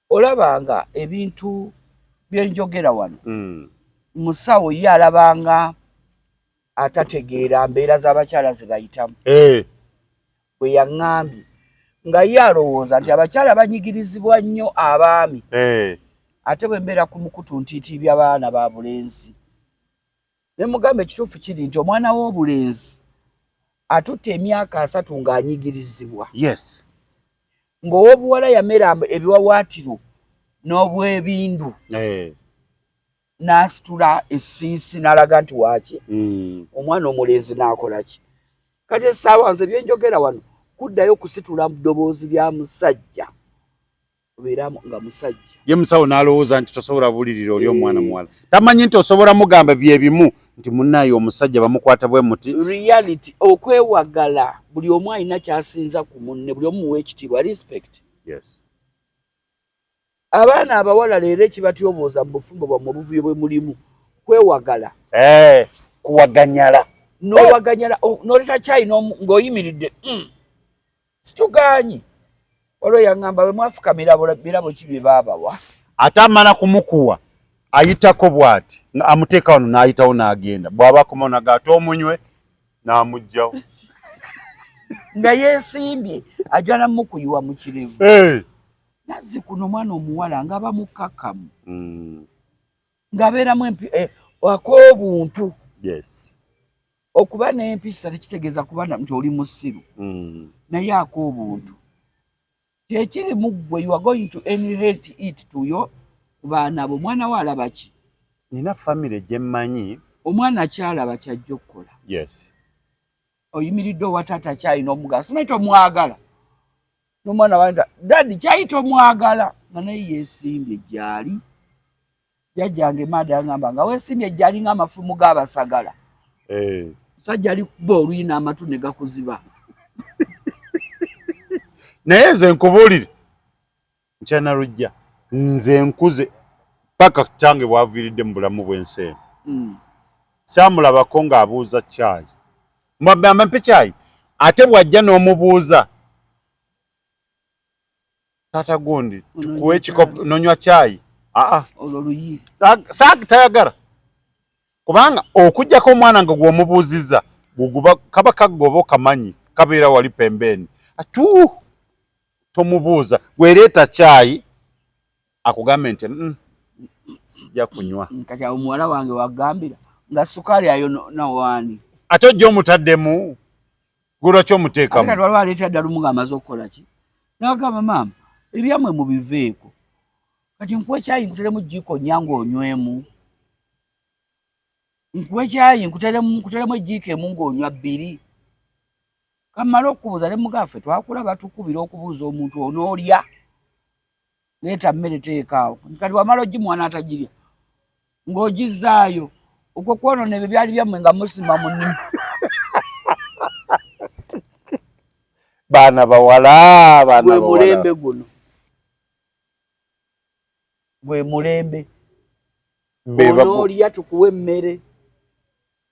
olabanga ebintu byenjogera wano mm. musawo ye alabanga atategeera mbeera z'abakyala ze bayitamu hey. Eh. bwe yaŋŋambye nga ye alowooza nti abakyala banyigirizibwa nnyo abaami hey. Eh. ate bwe mbeera ku mukutu ntiitiibya baana ba bulenzi ne mugamba ekituufu kiri nti omwana w'obulenzi atutte emyaka asatu ng'anyigirizibwa yes ng'owobuwala yamera ebiwawaatiro n'obwebindu hey. Eh. n'asitula esiisi n'alaga nti waaki mm. omwana omulenzi n'akola ki kati essaawa nze byenjogera wano kuddayo kusitula mu ddoboozi lya musajja obeeramu nga musajja ye musawo n'alowooza nti tosobola bulirira oli omwana muwala tamanyi nti osobola mugamba bye bimu nti munnaye omusajja bamukwata bwe muti reality okwewagala buli omu alina kyasinza ku munne buli omu muwa ekitiibwa respect yes abaana abawala leero ekibatyobooza mu bufumbo bwammwe obuvuyo bwe mulimu kwewagala eh, kuwaganyala nowaganyala oh, noleta kyayina ng'oyimiridde mm. situgaanyi waliwo yaŋŋamba bwe mwafukamira birabo ki bye baabawa ate amala kumukuwa ayitako bw'ati amuteeka wano n'ayitawo n'agenda bw'aba akomawo naga ate omunywe n'amuggyawo nga yeesimbye ajja namukuyiwa mu kirevu nazzi kuno omwana omuwala nga bamukkakkamu hmm. ng'abeeramu empi eh, ak'obuntu yes Okuba n'empisa tekitegeeza kuba nti oli musiru mm. naye ako obuntu kyekiri mu ggwe you are going to inherit it to yo ku baana bo omwana wo alaba ki nina famire gye mmanyi omwana kyalaba kyajja okukola yes oyimiridde owa taata kyayi n'omugala simanyi tomwagala n'omwana wa daddi kyayi tomwagala nga naye yeesimbye gyali Jajjange maada yangamba nga wesimbye ejjali nga amafumu ga basagala. Eh. Sajja ali kuba oluyina amatu ne gakuziba. Naye nze nkubulire. Nchana rujja. Nze nkuze paka kyange bwaviridde mu bulamu bw'ensi eno. Mm. Samulabako ng'abuuza chai. Mwabbe amampe chai. Ate bwajja n'omubuuza. Tata gundi tukuwe kikopo nonywa chai. Ah ah. Ololuyi. Sag tayagara. Kubanga okujja ko mwana ngo gwo mubuziza guguba kaba kagobo kamanyi kabera wali pembeni. Atu tomubuza gwereta chai akugambe nti mm, sija kunywa. Kati awo muwala wange wagambira nga sukari ayo na wani. Ate ojja omutaddemu. Gwolwaki omuteekamu? Kati waliwo aleetera ddala omu ng'amaze okukola ki? N'agamba maama, ebyamwe mubiveeko. Kati nkuwa ekyayi nkuteremu jjiiko nnyange onywemu. Nkuwa ekyayi nkuteremu ejjiiko emu ng'onywa bbiri. Kammala okukubuuza ne mugaffe twakula batukubira okubuuza omuntu onoolya. leeta mmere teekaawo nti kati wamala ogimuwa n'atagirya ng'ogizzaayo okwo kwonona ebyo byali byammwe nga musima mu nnimi baana bawala baana mulembe guno gwe mulembe onoolya tukuwa emmere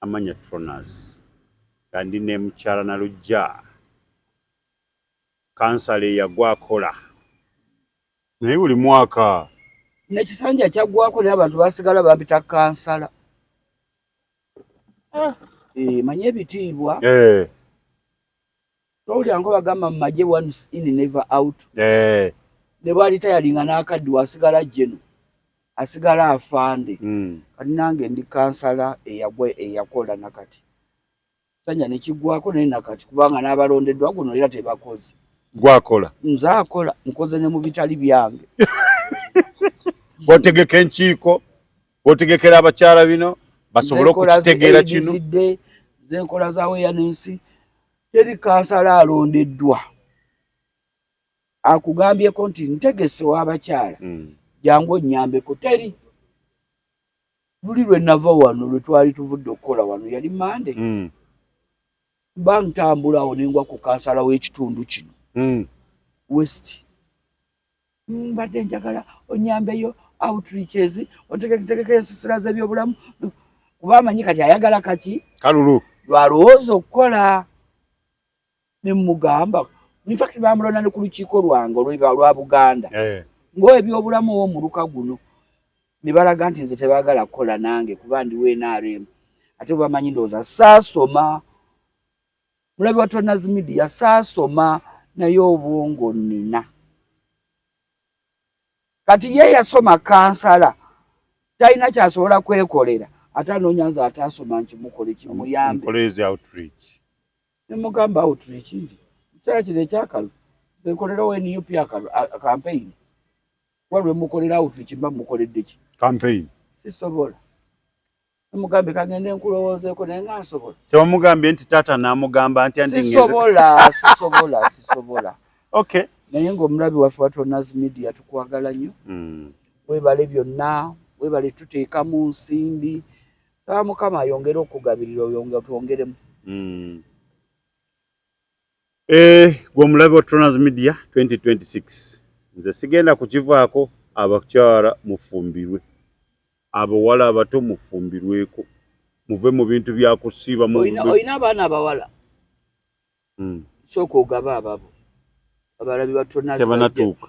Amanya Tronas nga ndi ne mukyala Nalujja kansala eyagwa akola naye buli mwaka. N'ekisanja kyaggwako naye abantu baasigala bampita kansala. Eh. Eh, manya ebitiibwa. Eh. Towulira nko bagamba mu magye once in never out. Eh. Ne bwali tayalinga n'akaddi wasigala jeno asigala afande. Hmm. Kati nange ndi kansala eyagwa eyakola nakati. Sanja ne kigwako naye nakati kubanga n'abalondeddwa guno era tebakoze. Gwakola. Nze akola nkoze ne mu bitali byange. Bwotegeka enkiiko, bwotegekera abakyala bino basobole okukitegeera kino. Nze nkola za weya n'ensi. teri kansala alondeddwa akugambyeko nti ntegese w'abakyala hmm. jangu onnyambeko teri luli lwe nava wano lwe twali tuvudde okukola wano yali mande hmm. mba ntambulawo nengwa ku kansala w'ekitundu kino hmm. west mbadde njagala onyambeyo outreaches ontegeketegeka ensisira z'ebyobulamu kuba amanyi kati ayagala kaki kalulu lwalowooza okukola nemugamba infact bamulonda ne ku lukiiko lwange olweba lwa buganda eh. ngaebyobulamu owo omuluka guno ne balaga nti nze tebagala kukola nange kuba ndiwo nrm ate bwebamanyi ndowooza saasoma mulabi wa Turners Media saasoma naye obwongo nina kati ye yasoma kansala talina kyasobola kwekolera ate anoonya nze ataasoma nkimukole kimuyambenemugamba outreach nti ekiseera kino ekyakalu nkolerawo nup akalu kampeyini kuba lwemukolera outreach mba mukoledde ki kampeyini sisobola Mugambye kagende nkulowoozeko naye nga nsobola. Tewamugambye nti taata n'amugamba nti andi ngeze. Sisobola, sisobola, sisobola. Okay. Naye ng'omulabi waffe wa Tonazi Media tukwagala nnyo. Mm. Webale byonna, webale tuteeka mu nsimbi. Saa Mukama ayongere okugabirira oyonge twongeremu. Mm. Eh, gwe omulabe wa Troners Media 2026 nze sigenda kukivaako abakyala mufumbirwe abawala abato mufumbirweko muve mu bintu bya kusiiba olina abaana abawala hmm. sooka ogaba ababo abalabi ba Troners tebanatuuka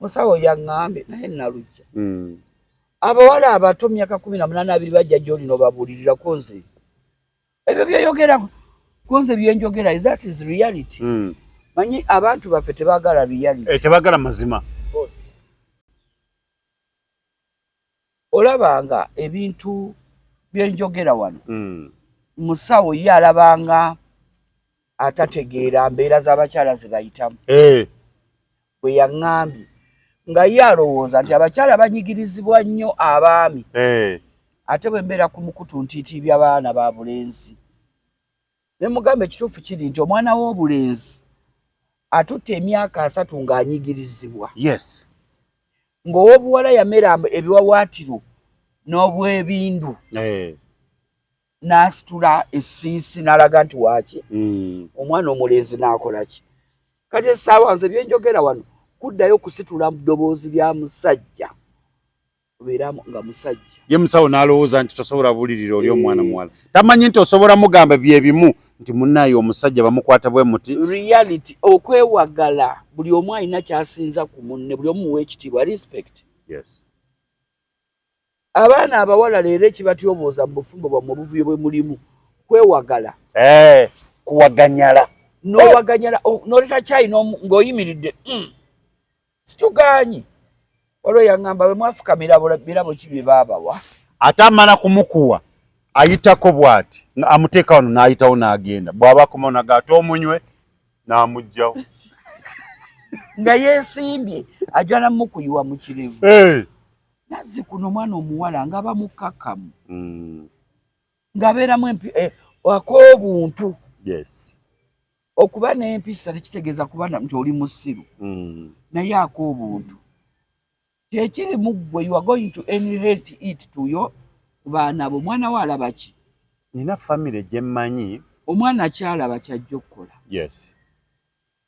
musawo yaŋŋambye naye nalujja hmm. abawala abato myaka kumi na munaana abiri bajja gyoli nobabuulirira ku nze ebyo byeyogera ku nze byenjogera that is reality hmm. manyi abantu baffe tebagala reality eh, tebagala mazima olabanga ebintu byenjogera wano mm. musawo ye alabanga atategeera mbeera z'abakyala zebayitamu hey. Eh. bwe yaŋŋambye nga ye alowooza nti abakyala banyigirizibwa nnyo abaami hey. Eh. ate bwe mbeera ku mukutu ntiitiibya baana ba bulenzi Ne mugamba ekituufu kiri nti omwana w'obulenzi atutte emyaka asatu ng'anyigirizibwa. Yes. Ng'ow'obuwala yamera ebiwawaatiro n'obwebindu. Eh. N'asitula essiisi n'alaga nti waaki. Mm. Omwana omulenzi n'akola ki? Kati essaawa nze bye njogera wano kuddayo kusitula mu ddoboozi lya musajja. obeeramu nga musajja ye musawo n'alowooza nti tosobola bulirira oli omwana muwala tamanyi nti osobola mugamba bye bimu nti munnaye omusajja bamukwata bwe muti reality okwewagala buli omu alina kyasinza ku munne buli omu muwa ekitiibwa respect yes abaana abawala leero ekibatyobooza mu bufumbo bwammwe obuvuyo bwe mulimu kwewagala eh, kuwaganyala nowaganyala oh, noleta kyayina ng'oyimiridde mm. situgaanyi olwo yaŋŋamba we mwafukamira birabo ki bye baabawa ate amala kumukuwa ayitako bw'ati amuteeka wano n'ayitawo n'agenda bw'aba akomawo naga ate omunywe n'amuggyawo nga yeesimbye ajja namukuyiwa mu kirevu nazzi kuno omwana omuwala nga bamukkakkamu hmm. ng'abeeramu empi eh, ak'obuntu Okuba n'empisa tekitegeeza kuba nti oli musiru mm. naye ako obuntu kyekiri mu ggwe you are going to inherit it to yo ku baana bo omwana wo alaba ki nina famire gye mmanyi omwana kyalaba kyajja okukola yes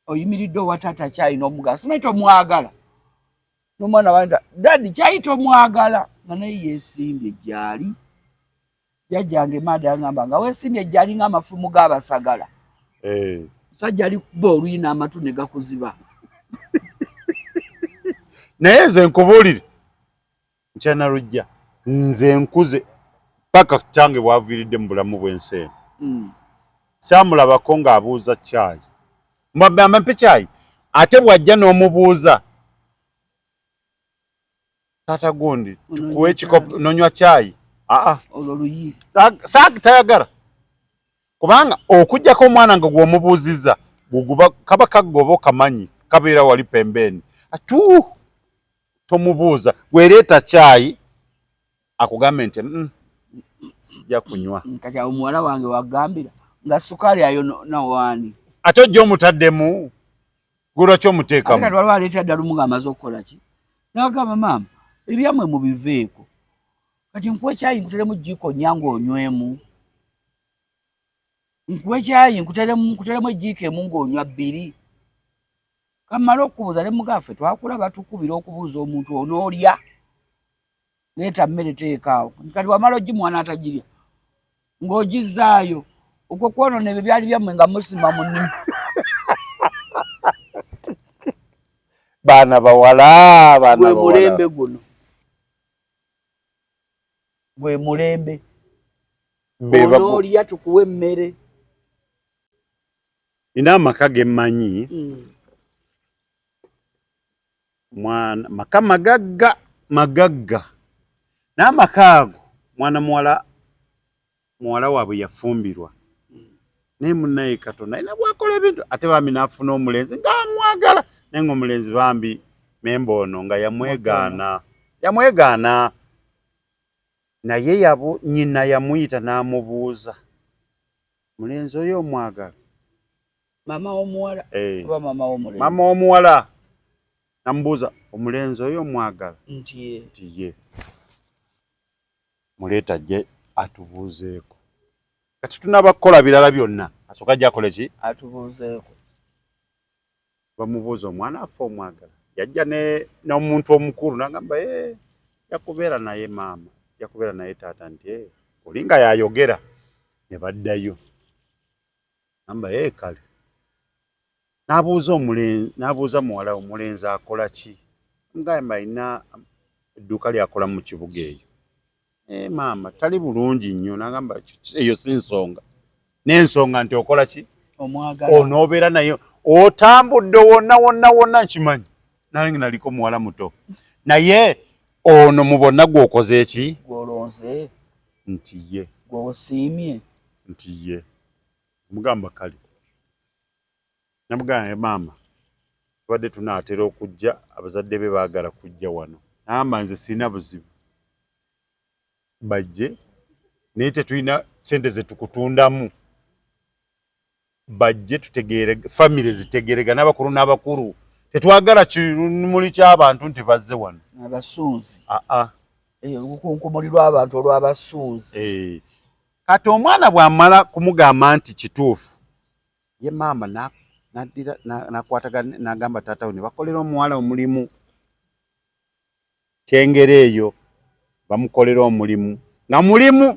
oyimiridde owa taata kyayi n'omugala simanyi tomwagala n'omwana wa dadi kyayi tomwagala nga naye yeesimbye gyali Jajjange maada yangamba nga wesimbye jali nga amafumu ga basagala. Eh. Sajja ali kuba oluyina amatu ne gakuziba. Naye nze nkubulire. Nchana rujja. Nze nkuze paka kyange bwaviridde mu bulamu bwensi eno. Mm. Samulabako nga abuuza chai. Mwabbe amampe chai. Ate bwajja n'omubuuza. Tata gundi tukuwe ekikopo nonywa chai. Aa. Olwo luyi. Saag tayagara. Kubanga okujjako omwana nga gwomubuuziza guguba kaba kagoba okamanyi kabeera wali pembeeni atu tomubuuza gwereeta chai akugambe nti mm, sijja kunywa mm, kati awo muwala wange wagambira nga sukaali ayo nawaani ate ojja omutaddemu gulwaki omuteekamu waliwo aleetera ddala omu ng'amaze okukola ki nagamba maama ebyamwe mubiveeko kati nkuwa ekyayi nkuteremu jjiiko nyanga onywemu nkuwa ekyayi nkuteremu ejjiiko emu ng'onywa bbiri kamala okubuuza ne mugaffe twakula batukubira okubuuza omuntu onoolya leeta mmere teekaawo nti kati wamala ogimuwa n'atagirya ng'ogizzaayo okwo kwonona ebyo byali byammwe nga musima mu nnimi baana bawala baana mulembe guno gwe mulembe onoolya tukuwa emmere nina amaka ge mmanyi mm. mwana maka magagga magagga n'amaka ago mwana muwala muwala waabwe yafumbirwa naye munaye katonda alina bwakola ebintu ate bambi n'afuna omulenzi ng'amwagala naye ng'omulenzi bambi memba ono nga yamwegaana yamwegaana naye yabu nyina yamuyita n'amubuuza mulenzi oyo omwagala mama womuwala hey. Eh. oba mama womulenzi mama womuwala namubuuza omulenzi oyo omwagala nti ye nti ye muleeta ajje atubuuzeeko kati tunaba kukola birala byonna asooka ajja akole ki atubuuzeeko bamubuuza omwana affe omwagala yajja n'omuntu omukulu nagamba e eh, yakubeera naye maama yakubeera naye taata nti eh, olinga yayogera ne baddayo Namba ye eh, kale n'abuuza omulenzi n'abuuza muwala omulenzi akola ki mugamba alina edduuka ly'akola mu kibuga eyo ee eh, maama tali bulungi nnyo n'agamba eyo si nsonga n'ensonga nti okola ki onoobeera naye otambudde wonna wonna wonna nkimanyi nange naliko muwala muto naye ono mu bonna gw'okoze eki gwolonze nti ye gwosiimye nti ye Namugamba kale. Namugamba maama tubadde tunaatera okujja abazadde be baagala kujja wano. Naamba nze sirina buzibu bajje naye tetulina sente zetukutundamu bajje tutegeere famire zitegerega n'abakulu n'abakulu tetwagala kimuli ky'abantu nti bazze wano abasuuzi aa ah, ah. eh, olukunkumuli lw'abantu olw'abasuuzi eh. kati omwana bwamala kumugamba nti kituufu ye maama nadira nakwataga nagamba taata we nebakolera omuwala omulimu kyengera eyo bamukolera omulimu nga mulimu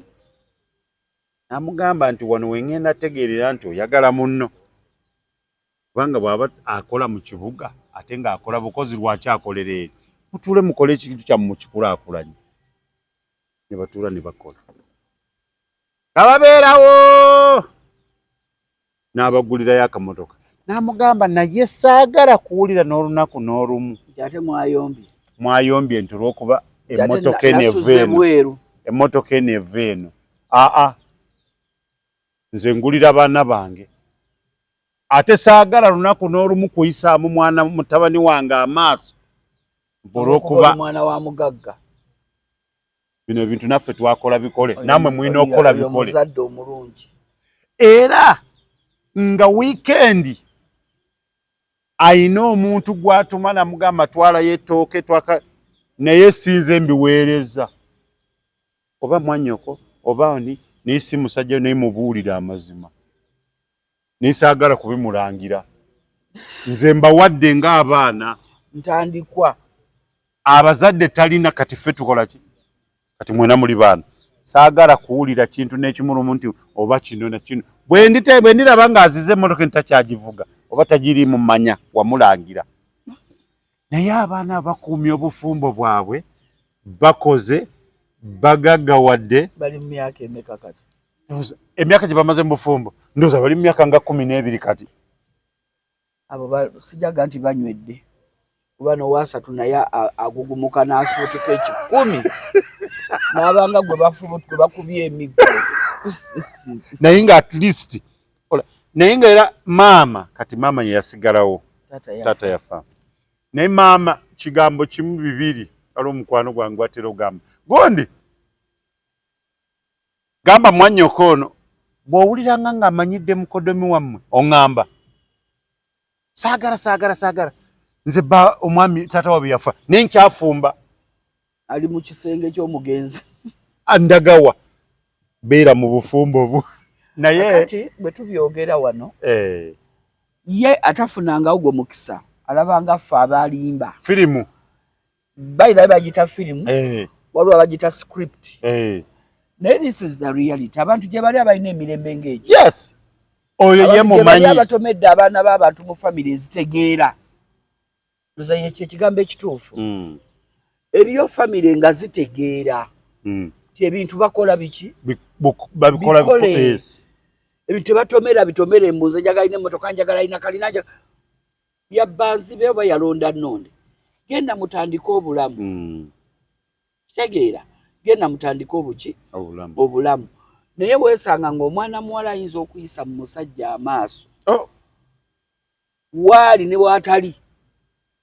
namugamba nti wano wengenda tegeerera nti oyagala munno kubanga bwaba akola mu kibuga ate ngaakola bukozi lwaki akolera eri mutule mukole ekintu kyamu mukikulakulanye ne batuula ne bakola nga babeerawo n'abagulirayo akamotoka n'amugamba naye saagala kuwulira n'olunaku n'olumu ate mwayombye mwayombye nti olwokuba emmotoka eno eva eno emmotoka eno eva eno aa nze ngulira baana bange ate saagala lunaku n'olumu kuyisaamu mwana mutabani wange amaaso olwokuba omwana wa mugagga bino ebintu naffe twakola bikole namwe mulina okukola bikole omuzadde omulungi era nga wiikendi ayina omuntu gwatuma namugamba twalayo etooke twaka naye sinze mbiweereza oba mwanyoko oba ani naye si musajja naye mubuulire amazima nesaagala kubimulangira nze mbawadde ng'abaana ntandikwa abazadde talina kati ffe tukola ki kati mwena muli baana saagala kuwulira kintu n'ekimulumu nti oba kino nakino bwe ndiraba ng'azize emmotoka entakyagivuga oba tagiriimu manya wamulangira naye abaana abakuumya obufumbo bwabwe bakoze bagaggawadde bali mu myaka emeka kati emyaka gye bamaze mu bufumbo ndooza bali mu myaka nga kumi n'ebiri kati abo sijaga nti banywedde kuba nowasatu naye agugumuka n'asuutuka ekikumi n'abanga gwe bakubye emiggo naye nga at least naye nga era maama kati maama yeyasigalawo taata yafa naye maama kigambo kimu bibiri ali omukwano gwange gwatera ogamba gondi gamba mwanyoko ono bwowuliranga nga amanyidde mukodomi wammwe oŋamba saagala saagala saagala nze ba omwami taata wabwe yafa naye nkyafumba ali mu kisenge ky'omugenzi andagawa beera mu bufumbo bu naye kati bwe tubyogera wano eh. ye atafunanga ogwo mukisa alabanga ffe abalimba firimu bayirabe bagita firimu eh. waliwo abagita script eh. naye this is the reality abantu gye bali abalina emirembe ng'egyo yes oyo ye mumanyi abatomedde abaana b'abantu mu famiry ezitegeera muzanyo kyekigambo ekituufu mm. eriyo famire nga zitegeera mm. ti ebintu bakola biki babikole ebintu tebatomera bitomere mbunze njagala ina emotoka njagala ina kalina yabbanzibe oba yalonda nonde genda mutandike obulamu mm. kitegeera genda mutandike obuki obulamu naye weesanga ng'omwana muwala ayinza okuyisa mu musajja amaaso oh. waali ne waatali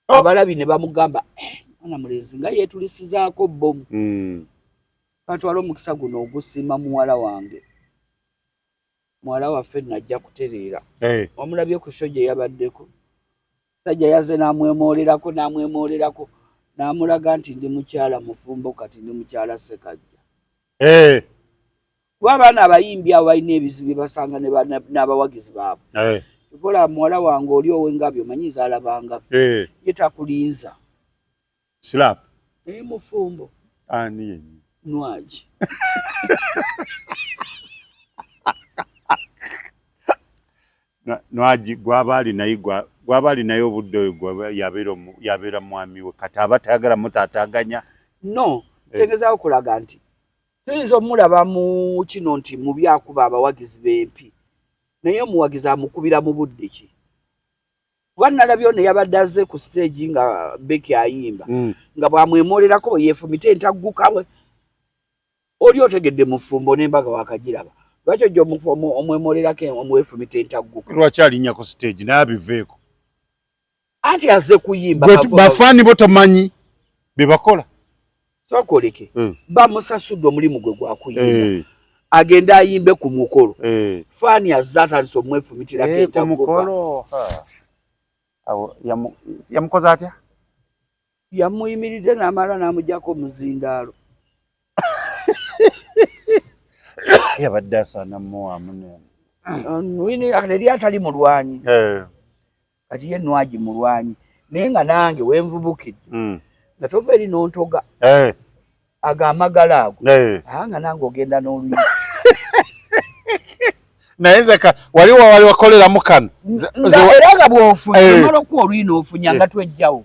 oh. abalabi ne bamugamba eh, mwana mulenzi nga yeetulisizaako bbomu hmm. katwala omukisa guno ogusiima muwala wange muwala waffe najja kutereera eh. omulabye ku sho gye yabaddeko sajja yaze n'amwemoolerako n'amwemoolerako n'amulaga nti ndi mukyala mufumbo kati ndi mukyala sekajja eh. kuba abaana abayimbi abo balina ebizibu bye basanga n'abawagizi baabwe eh. kola muwala wange oli owengabi omanyi zalabanga eh. ye takulinza slap naye mufumbo ani yenyi nwagi nwagi gwaba ali naye gwaba ali naye obudde oyo yabeera mwami we kati aba tayagala mutataganya no eh. tegezaawo kulaga nti Tuyinza omulaba mu kino nti mu byakuba abawagizi b'empi naye omuwagizi amukubira mu budde ki kuba nalabye ono yabadde azze ku siteegi nga beki ayimba mm. nga bwamwemoolerako bwe yeefumita entagguka bwe oli otegedde mufumbo n'embaga wakagiraba lwaki ojja omwemoolerako omwefumita entagguka lwaki alinnya ku siteegi naye abiveeko anti aze kuyimba bafani bo tamanyi bebakola sokoleke mm. bamusasudde omulimu gwe gwakuyimba hey. Eh. agenda ayimbe ku mukolo hey. Eh. fani aze atandise omwefumitirako hey, eh, kumukolo yamukoze atya yamuyimiridde namala namujako omuzindaalo yabadde asana muwamu nene uh, wini atali mulwanyi hey. kati ye nwagi mulwanyi naye nga nange wenvubukidde mm. nga tova eri nontoga hey. Eh. ago amagala ago hey. Eh. aa nga nange ogenda noluyi naye nze wali wawali wakoleramu kano era nga bwofunye eh. omala okuwa oluyi nofunya nga twejjawo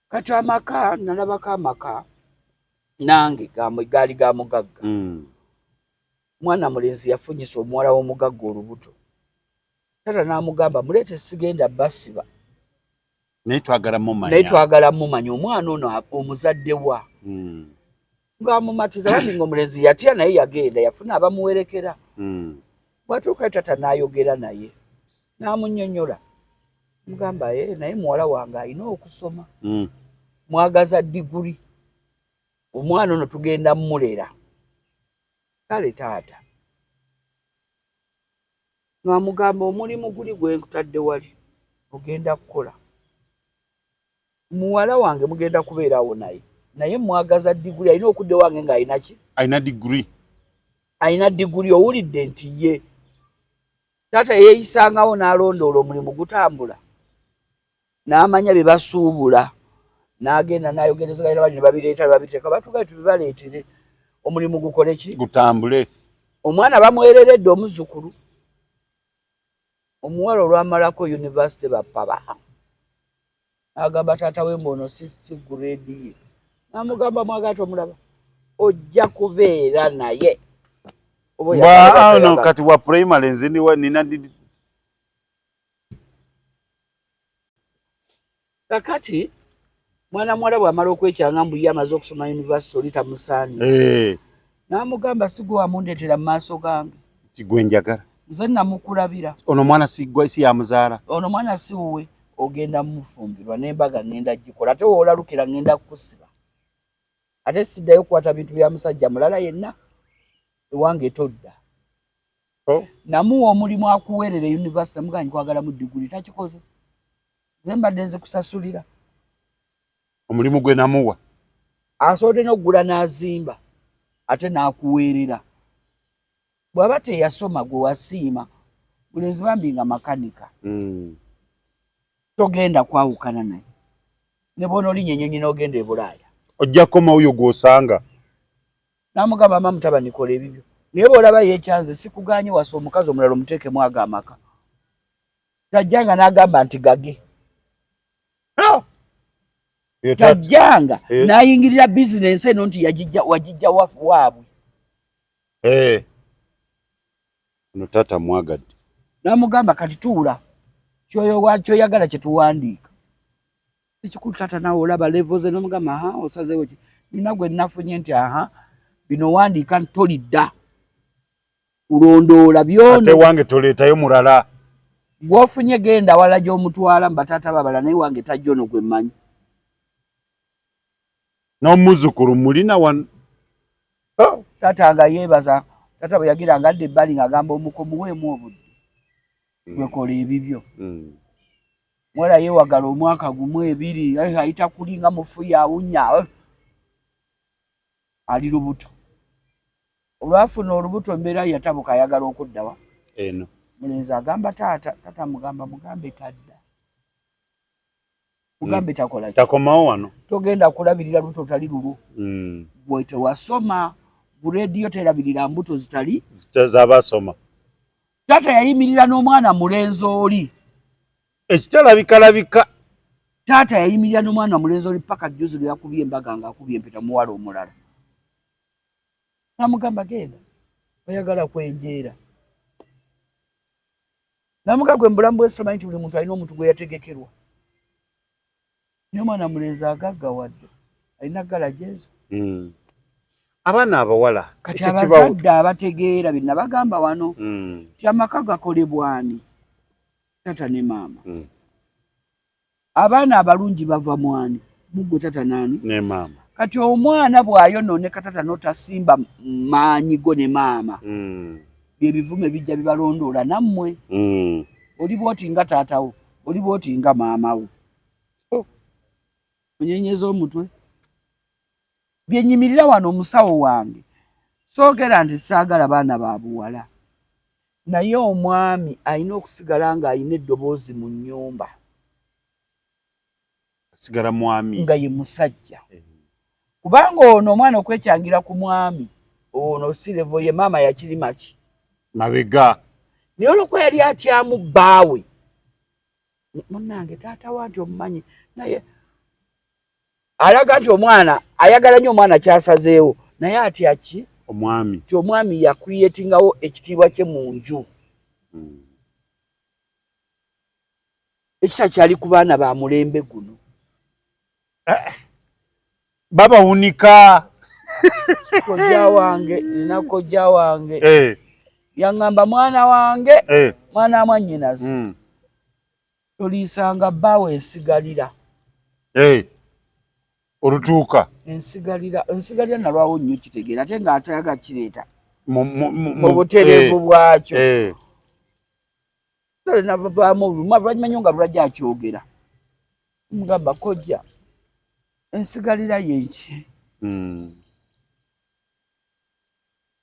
kati amaka nalabako amaka nange gaali ga mugagga hmm. mwana mulenzi yafunyisa omuwala w'omugagga olubuto tata n'amugamba muleete sigenda basiba naye twagala mumanya omwana ono omuzadde wa hmm. bwamumatiza bambi nga omulenzi yatya naye yagenda yafuna abamuwerekera hmm. bwatuukayo tata nayogera naye namunyonyola mugamba e eh, naye muwala wange alina okusoma hmm. mwagaza diguri omwana ono tugenda mulera kale taata nwamugamba omulimu guli gwenkutadde wali ogenda kukola muwala wange mugenda kubeera awo naye naye mwagaza diguli alina okudda ewange nga alina ki alina diguli alina diguli owulidde nti ye taata yeeyisangawo n'alondoola omulimu gutambula n'amanya bye basuubula n'agenda n'ayogerezeganya bali ne babireeta ne babiteeka batugae tubibaleetere omulimu gukole ki gutambule omwana bamwereredde omuzzukulu Omuwala olwamalako university bappa baamu nagamba taata we mbu ono sisi grade ye namugamba mwagala tomulaba ojja kubeera naye kati wa primary nziniwa nina kakati mwana muwala bwamala okwekyanga mbu ye amaze okusoma univesity oli tamusaanye eh. namugamba sigwe wamundetera mu maaso gange tigwe njagala nze namukulabira ono mwana sigwe si yamuzaala ono mwana si wuwe ogenda mumufumbirwa nembaga ngenda gikola ate wolalukira ngenda kukusiba ate siddayo okukwata bintu bya musajja mulala yenna ewange todda oh. namuwa omulimu akuweerera univesity muganyi kwagala mu diguli takikoze nze mbadde nzikusasulira omulimu gwe namuwa asobodde n'okugula n'azimba ate n'akuweerera bw'aba teyasoma gwe wasiima bulenzi bambi nga makanika hmm. togenda kwawukana naye ne bona olinya enyonyi n'ogenda e bulaaya ojja koma oyo gw'osanga namugamba ama mutabanikola ebibyo naye bw'olaba yeekyanze sikuganye wasa omukazi omulala omuteekemu ago amaka tajjanga n'agamba nti gage tajjanga n'ayingirira bizinensi eno nti wagijja waabwe eh. no taata mwagadde namugamba kati tuula kyoyagala kyetuwandiika sikikulu taata nawe olaba levoze nomugamba aha osazewo ki nina gwe nafunye nti aha bino wandiika ntolidda kulondoola byona ate wange toleetayo mulala gwofunye genda awalala gyomutwala mubataata babala naye wange tajja ono gwe mmanyi n'omuzukulu mulina wano oh. taata nga yeebaza taata bwe yagira nga adda ebbali ng'agamba omuko muweemu obudde mm. gwekola ebibyo mm. mwala yeewagala omwaka gumu ebiri ayita kuli nga mufuya awunya Ali lubuto. Olwafuna olubuto embeera yatabuka ayagala okuddawa? Eno. Mulenzi agamba taata, taata mugamba mugambe tadda. Mugambe mm. takola. Takomawo wano. Togenda kulabirira lubuto tali lulu. Mm. Gwe tewasoma. Ku rediyo terabirira mbuto zitali. Zitazabasoma. Tata yayimirira n'omwana mulenzi oli. ekitalabikalabika taata yayimirira nomwana mulenzi oli paka juzi lweyakubye embaga nga akubye empeta muwala omulala namugamba genda oyagala kwenjeera namuga gwe mubulamu bwensi tomanyi nti buli muntu alina omuntu gwe yategekerwa naye omwana mulenzi agagga wadde alina gala jezo hmm. abaana abawala kati abazadde abategeera binabagamba wano hmm. ti amaka gakolebwani tata ne maama mm. abaana abalungi bava mwani mugwe tata nani ne maama kati omwana bwayononeka tata notasimba maanyi go ne maama mm. byebivume bijja bibalondoola nammwe mm. oli bwoti nga taatawo oli bwoti nga maamawo oh. onyenyeza omutwe Bye nnyimirira wano omusawo wange soogera nti saagala baana ba buwala naye omwami alina okusigala ng'alina eddoboozi mu nnyumba. Asigala mwami. Nga ye musajja. Eh. Kubanga ono omwana okwecangira ku mwami ono si levo ye maama yakirima ki? Mabega. Naye olwokuba yali atyamu bbaawe munnange taata wa nti omumanyi naye alaga nti omwana ayagala nnyo omwana kyasazeewo naye atya ki omwami ti omwami yakriyetingawo ekitiibwa kye mu nju hmm. ekita kyali ku baana ba mulembe guno eh, babawunika kojja wange nina kojja wange eh. yaŋŋamba mwana wange eh. mwana wa mwanyinazi hmm. Toliisanga bbaawo ensigalira. Hey, olutuuka. Ensigalira, ensigalira nalwawo nnyo kitegeera ate nga atayaga kireeta mu butereevu eh, bwakyo. Eh. Tolina bavaamu olumu abalwanyuma nnyo nga lulajja akyogera. Mugamba kojja ensigalira yenki? Hmm.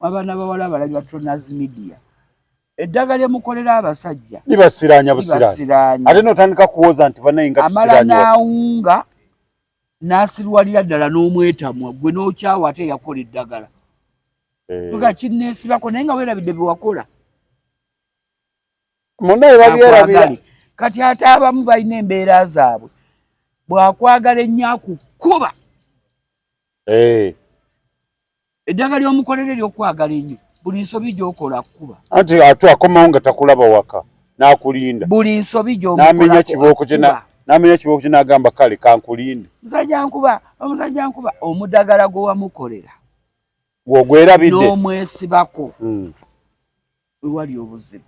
Abaana bawala abalagi ba Tronaz Media eddaga lye mukolera abasajja libasiraanya busiraanya ate n'otandika kuwooza nti banaye nga amala n'awunga n'asirwalira ddala n'omwetamwa gwe n'okyawa ate yakola eddagala eh. nga kinneesibako naye nga weerabidde bye wakola munaye babyerabira kati ate abamu balina embeera zaabwe bw'akwagala ennyo akukuba eh. Eddagala ly'omukolera ery'okwagala ennyo buli nsobi gy'okola akukuba. Anti atu akomawo nga takulaba waka n'akulinda. Buli nsobi gy'omukola akukuba. N'amenya kibooko kye n'amenya kibooko kye n'agamba kale kankulinde. Musajja nkuba omusajja nkuba omudagala gwe wamukolera. Gw'ogwerabidde. N'omwesibako. Hmm. We wali obuzibu.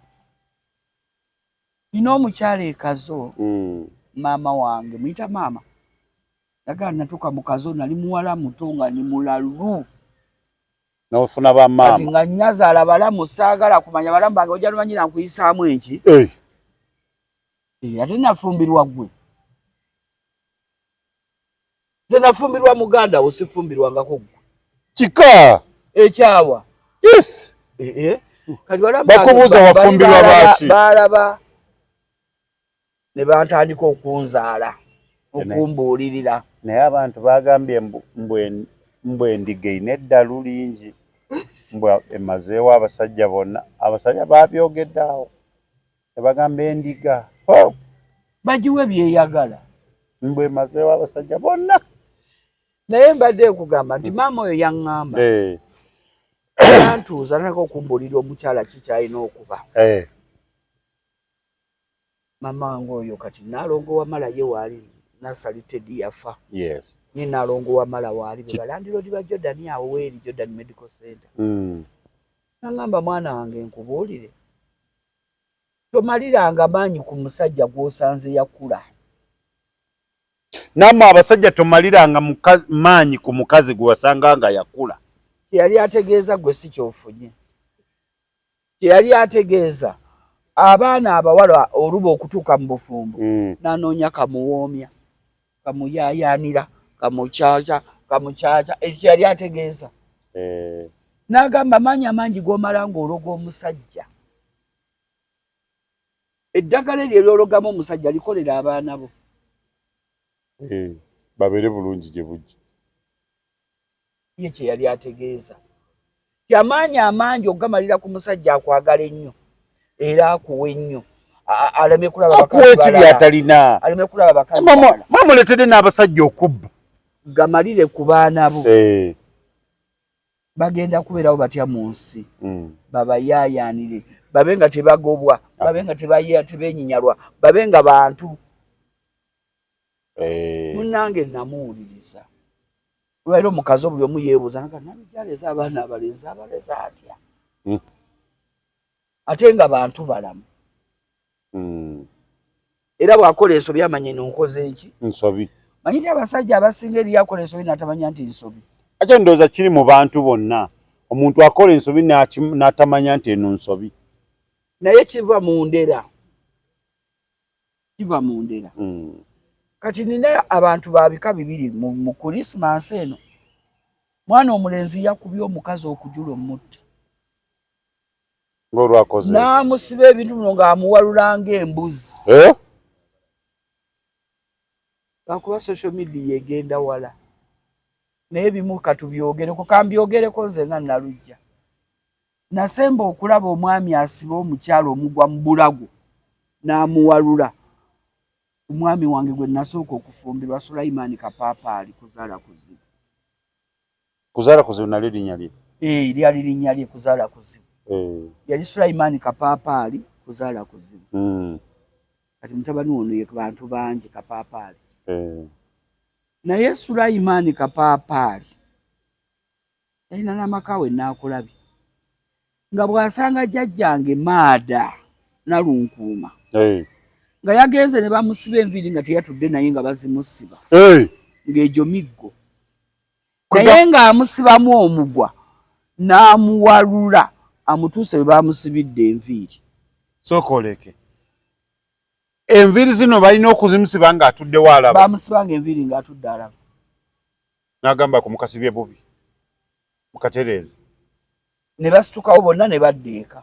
Nina omukyala ekazo hmm. maama wange muyita maama. Dagala natuka mukazo nali muwala muto nga ni mulalu. Na ofuna ba mama. Ati nga nyaza ala bala musagala kumanya bala mbange oja lumanyira nkuyisa amu enchi. Eh. Eh ati na fumbirwa gwe. Zena fumbirwa muganda osifumbirwa ngako gwe. Chika. Echawa. Eh, yes. Eh eh. Kati bala mbange. Bakubuza wafumbirwa bachi. Bala ba. ne batandika okunzaala okumbuulirira naye abantu baagambye mbu endiga erina eddalu lingi mbu emazeewo abasajja bonna abasajja baabyogedde awo ne bagamba endiga bagiwe byeyagala mbu emazeewo abasajja bonna naye mbadde nkugamba nti maama oyo yaŋŋamba eh. antuuza naka okumbuulira omukyala kikyalina okuba eh. Mamange oyo kati nalongo wamala ye waali nasali tedi yafa yes. ni nalongo wamala waali bebalandilodi ba jordan awo weeri jordan medical center mm. nangamba mwana wange nkubuulire tomaliranga maanyi ku musajja gwosanze yakula namwe abasajja tomaliranga maanyi ku mukazi gwewasanga nga yakula teyali ategeeza gwe si kyofunye kye yali ategeeza abaana abawala oluba okutuuka mu bufumbo mm. nanoonya kamuwoomya kamuyayaanira kamukyakya kamukyakya ekyo kye yali ategeeza eh. n'agamba maanyi amangi g'omala ng'ologa omusajja eddagala eryo eryologamu omusajja likolera abaana bo eh, babeere bulungi gye bujja ye kye yali ategeeza nti amaanyi amangi okugamalira ku musajja akwagala ennyo era akuwa ennyo aleme kulabaatalina aleme kulaba bakazimamuletede n'abasajja okubba gamalire ku baana bo eh. bagenda kubeerawo batya mu nsi hmm. babayaayaanire babe nga tebagobwa ah. babe nga tebenyinyalwa babe nga bantu eh. munange namuwuliriza Lwaliro mukazi obuli omu yeebuuza nga nani gyaleza abaana abalenzi abaleza atya hmm. ate nga bantu balamu hmm. era bw'akola ensobi amanye nonkoze eki nsobi manyi ti abasajja abasinga eriyo akola ensobi natamanya nti nsobi ate ndowooza kiri mu bantu bonna omuntu akola ensobi n'atamanya nti eno nsobi naye kiva mu ndera kiva mu ndera mm. kati nina abantu babika bibiri mu kulisimansi eno mwana omulenzi yakubye omukazi okujula omutta ngolwakoze namusiba ebintu bino ngaamuwalulanga embuzi eh? lwakuba social media egenda wala naye bimu katubyogereko kambyogereko nzena nalujja Nasemba okulaba omwami asiba omukyala omugwa mu bulago n'amuwalula. Omwami wange gwe nasooka okufumbirwa Sulaiman Kapaapaali, Kuzaala Kuzibu. Kuzaala Kuzibu nalyo linnya lye? Ee, lyali linnya lye, Kuzaala Kuzibu. Yali Sulaiman Kapaapaali, Kuzaala Kuzibu. Hmm. Kati mutabani ono ye bantu bangi Kapaapaali. Naye Sulaiman Kapaapaali Yalina n'amaka we Nnaakulabye nga bw'asanga jjajjange Maada Nalunkuuma nga yagenze ne bamusiba enviiri nga teyatudde naye nga bazimusiba ng'egyo miggo naye ng'amusibamu omugwa n'amuwalula amutuuse we baamusibidde enviiri sokoleke enviiri zino balina okuzimusiba ng'atuddewo alaba bamusibanga enviiri ng'atudde alaba N'agamba akumukasibye bubi mukatereeze. Ne basitukawo bonna ne badda eka.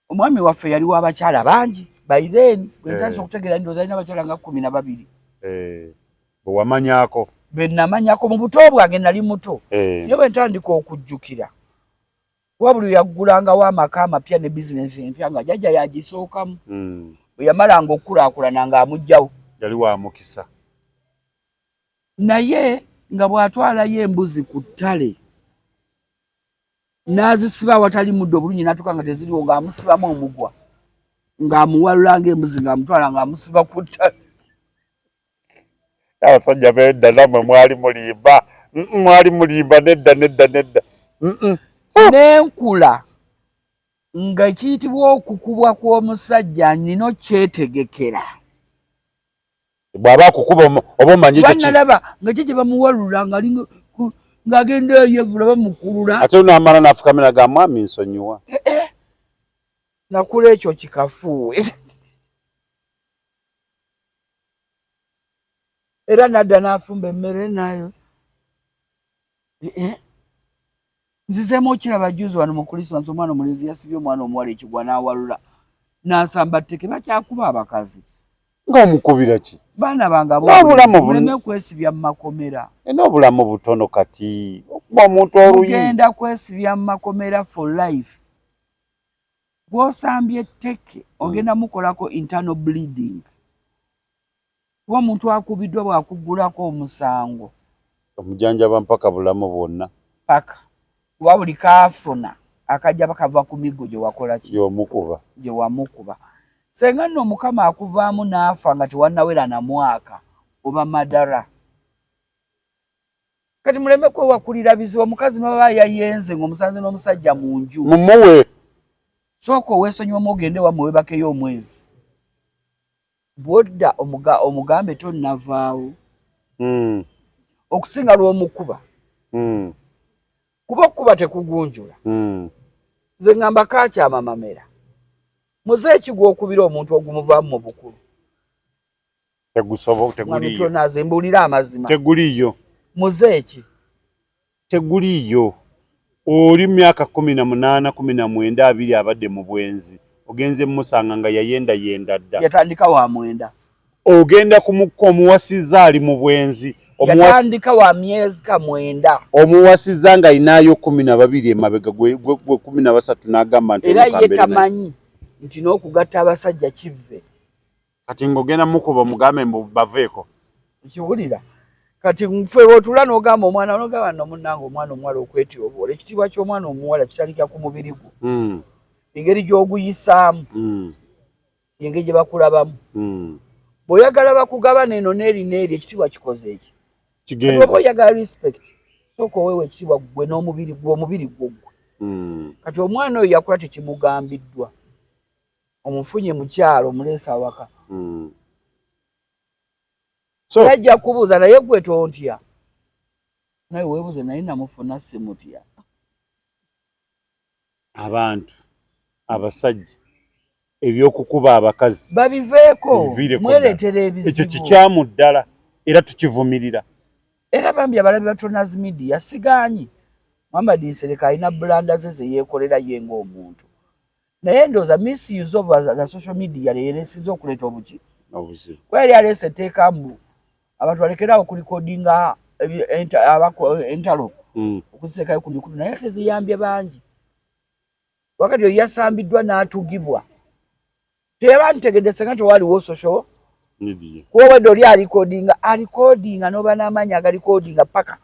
Omwami waffe yali wa bakyala bangi by then gwe eh. ntandise okutegeera ndowooza alina abakyala nga kkumi na babiri. Eh. Bwe wamanyako? Be namanyako mu buto bwange nali muto eh. naye bwe ntandika okujjukira wabuli yaggulangawo amaka amapya ne bizinensi empya nga jajja yagisookamu hmm. bwe yamalanga okukulaakulana ng'amugjawo yali wa mukisa naye nga bw'atwalayo embuzi ku ttale n'azisiba awatali muddo obulungi n'atuuka nga teziriwo ng'amusibamu omugwa ng'amuwalula ng'embuzi ng'amutwala ng'amusiba ku ttale abasajja bedda namwe mwali mulimba mwali mulimba nedda nedda nedda n'enkula nga kiyitibwa okukubwa kw'omusajja nina okyetegekera bwaba akukuba oba omanyi ekyo kiki laba nga kye kye bamuwalula nga ali nga agenda eyo yevula bamukulula ate uno amala nafukamira ga mwami nsonyiwa eh, eh. nakula ekyo kikafuuwe era nadda nafumba emmere nayo eh, Nzizeemu okiraba juzi wano mu Kulisimansi omwana omulenzi yasibye omwana omuwala ekigwa n'awalula n'asamba tteke bakyakuba abakazi. Nga omukubira ki? Baana bange ab'obulenzi muleme kwesibya mu makomera. E, n'obulamu butono kati okuba omuntu oluyi. Mugenda kwesibya mu makomera for life. Gw'osambye tteke ogenda mukolako internal bleeding. Kuba omuntu akubiddwa bw'akuggulako omusango. Omujanjaba mpaka bulamu bwonna. Paka. Kuba buli k'afuna akajja kava ku miggo gye wakola ki? Gy'omukuba. Gye wamukuba. Ssenga nno Mukama akuvaamu n'afa nga tewannawera na mwaka oba madara. Kati muleme kwewakulira bizibu omukazi n'oba yayenze ng'omusanze n'omusajja mu nju. Mumuwe. Sooka owesonyiwemu ogende wammwe webakeyo omwezi. Bwodda omugambe tonnavaawo okusinga lw'omukuba kuba okukuba tekugunjula. Nze ngamba kakyama mamera muze ki gw'okubira omuntu ogumuvaamu mu bukulu tegusobola teguliyo mbuulira amazima teguliyo muze ki Teguliiyo. Oli myaka kkumi na munaana, kkumi na mwenda, abiri abadde mu bwenzi, ogenze mmusanga nga yayendayenda dda. Yatandika wa mwenda. Ogenda ku mukko omuwasizza ali mu bwenzi. Yatandika wa myezka mwenda. Omuwasizza nga ayinaayo kkumi na babiri emabega, gwe kkumi na basatu n'agamba nti. Era ye tamanyi nti n'okugatta abasajja kivve. kati ngogenda mukuba omugambe mbu baveeko kiwulira kati nfe wotula nogamba omwana nogamba no munange omwana omuwala okwetyoboola ekitiibwa ky'omwana omuwala kitandika ku mubiri gwo hmm. engeri gy'oguyisaamu hmm. engeri gye bakulabamu hmm. bw'oyagala bakugabana eno n'eri n'eri ekitiibwa kikoze eki kigenza oyagala respect sooka oweewa ekitiibwa gwe n'omubiri gwe omubiri gwo gwe kati omwana oyo yakula tekimugambiddwa omufunye mukyalo omulesa awaka mm. so yajja kubuza naye gwe tontya naye webuze naye namufuna simutya abantu abasajja ebyokukuba abakazi babiveeko mweretera ebizibu ekyo kikyamu ddala era tukivumirira era bambi abalabi batonas media siganyi muhammad nsereka alina bulanda ze zeyekolera ye ngaomuntu naye ndoza misuse of the social media leero esinze okuleeta obuki kuba yali aleesa etteeka mbu abantu balekeraawo okulikodinga entalo hmm. okuziteekayo ku mikulu naye ate ziyambye bangi wakati oyo yasambiddwa n'atugibwa teyabantegedde senga tewaaliwo social kuba obwedde oli alikodinga alikodinga n'oba n'amaanyi agalikodinga paka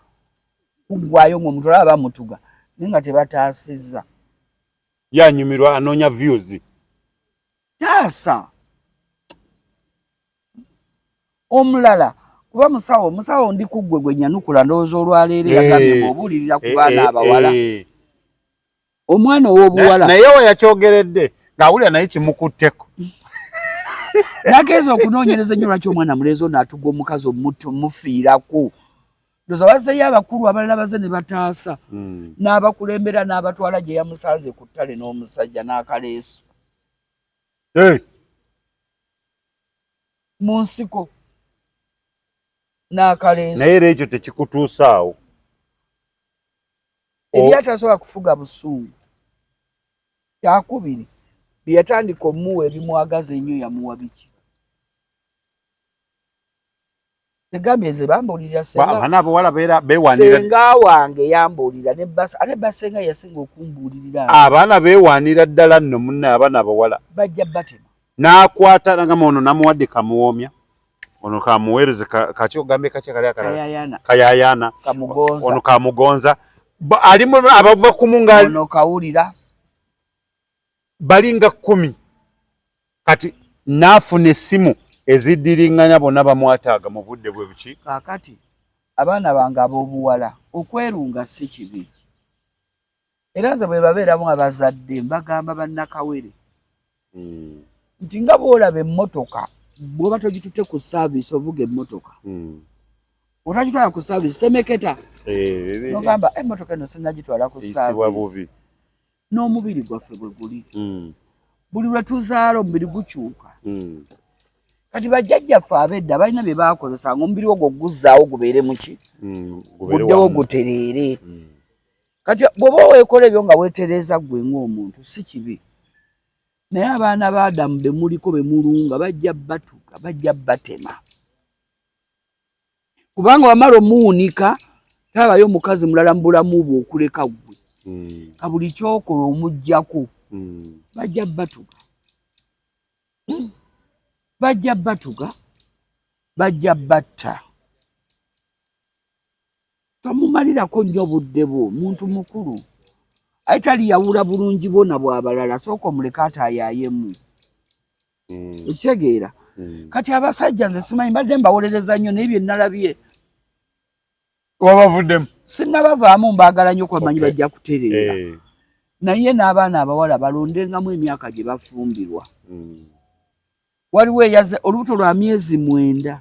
kuggwayo ng'omuntu olaba bamutuga naye nga tebataasizza Ye anyumirwa anoonya views. Taasa omulala kuba musawo musawo ndi kuggwe gwe nyanukula ndowooza olwaleero yagambye eh, obuulirira ku eh, baana eh, abawala omwana ow'obuwala naye we yakyogeredde ng'awulira naye kimukutteko nageeza okunoonyereza ennyo lwaki omwana mulenzi ono atugwa omukazi omufiirako ndoza bazeyo abakulu abalala baze ne bataasa mm. n'abakulembera n'abatwala gye yamusanze ku ttale n'omusajja n'akaleesu hey. mu nsiko n'akaleesu naye era ekyo tekikutuusaawo ebyatasobola kufuga busungu kyakubiri byeyatandika omuwa ebimwagaza ennyo yamuwa biki egambye nze bambuulira abaana abawala beewaanira senga wange yambuulira ne bas ate basenga yasinga okumbuulirira abaana beewaanira ddala nno munne abaana abawala bajja batema n'akwata nagamba ono namuwadde kamuwoomya ono kamuweereze kaki ogambye kaki kali akalala kayayaana ono kamugonza alimu abava kumu ngaali ono kawulira bali nga kkumi kati naafuna essimu eziddiringanya bonna bamwataaga mu budde bwe buki kaakati abaana bange ab'obuwala okwerunga si kibi era nze bwe babeeramu abazadde mbagamba bannakawere hmm. nti nga bw'olaba emmotoka bw'oba togitute ku saaviisi ovuga emmotoka hmm. otakitwala ku saaviisi temeketa eh, ogamba eh, emmotoka eh, eno sinagitwala ku saaviisi n'omubiri gwaffe bwe guli mm. buli lwe tuzaala omubiri gukyuka mm. kati bajjajjaffe abedda balina bye baakozesa nga omubiri ogwo guzzaawo gubeere muki mm, guddewo gutereere mm. kati bw'oba weekola ebyo nga weetereeza ggwe ng'omuntu si kibi naye abaana ba adamu be muliko be mulunga bajja batuka bajja batema kubanga wamala omuwunika tabayo omukazi mulala mu bulamu bwe okuleka ggwe hmm. ka buli kyokola omuggyako hmm. bajja batuga hmm. bajja batuga bajja batta tomumalirako nnyo obudde bwo muntu mukulu aye taliyawula bulungi bwona bwabalala sooka omuleka atayayemu mm. ekitegeera mm. kati abasajja nze simanyi mbadde mbawolereza nnyo naye byenalabye wabavuddemu sinabavaamu mbaagala nnyo kwamanyi okay. bajja kutereera hey. Eh. naye n'abaana abawala balondengamu emyaka gye bafumbirwa mm. waliwo eyaze olubuto lwa myezi mwenda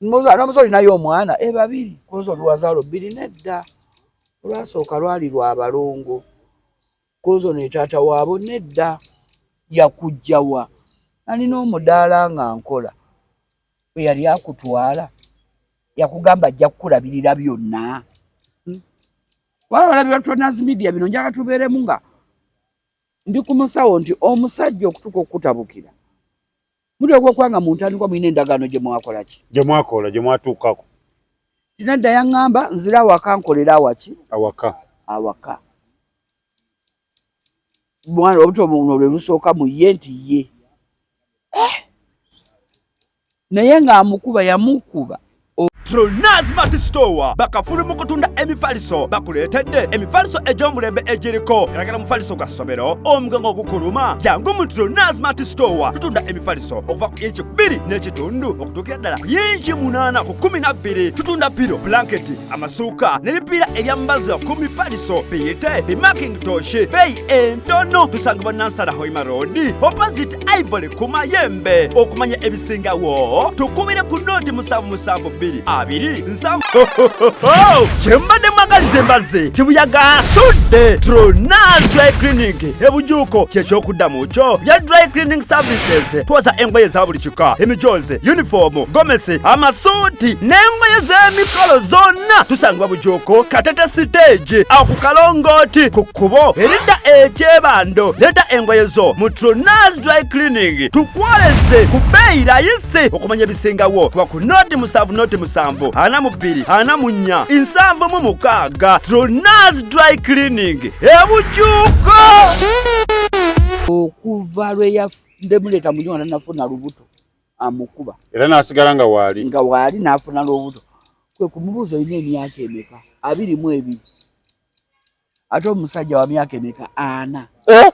nomuze olinayo omwana e babiri kunze oluwazaalo bbiri nedda olwasooka lwali lwa balongo kunze ono etaata waabo nedda yakujjawa nalina omudaala nga nkola bwe yali akutwala yakugamba ajja kukulabirira byonna hmm? waba balabi batunazimedia bino njaga tubeeremu nga ndi ku musawo nti omusajja okutuuka okukutabukira Mutwe gw'okwanga mu ntandikwa mulina endagaano gye mwakola ki? Gye mwakola, gye mwatuukako. Tinadda yaŋŋamba nzire awaka nkolere awaki? Awaka. Awaka. Mwana obutwa buno lwe lusooka mu ye nti ye. Eh! Naye ng'amukuba yamukuba Pronaz Mart Store bakafulu mu kutunda emifaliso bakuleetedde emifaliso egy'omulembe egiriko galagala mufaliso gwa ssomero omugongo ogukuluma jangu mu Pronaz Mart Store tutunda emifaliso okuva ku inchi bbiri n'ekitundu okutuukira ddala ku inchi munaana ku kumi na bbiri tutunda piro blanketi amasuuka n'ebipiira ebyambaza ku mifaliso biyite bimaking toshi beeyi entono tusangibwa nansala hoima road opposite ivory ku mayembe okumanya ebisingawo tukubire ku nooti musanvu musanvu bbiri abiri nsanvu kyembadde mwagaliza embazze kibuyaga asudde tronal dry clinic ebujuuko kyekyokuddamu kyo bya dry cleaning services twoza engoye eza buli kika emijoozi yunifoomu gomesi amasuuti n'engoye z'emikolo zonna tusangibwa bujuuko katete siteegi awo ku kalongooti ku kkubo eridda ekyebando leeta engoye zo mu trunas dry cleaning tukwoleze ku bbeeyi layisi okumanya ebisingawo kuba ku noti musanvu noti musanvu ana mu bbiri ana mu nnya nsanvu mu mukaaga trunas dry cleaning ebujuuko okuva lwe yademuleta munyuma nanafuna lubuto amukuba era nasigala nga waali nga waali nafuna lubuto kwe kumubuuza olina emyaka emeka abiri mu ebiri ate omusajja wa myaka emeka ana eh?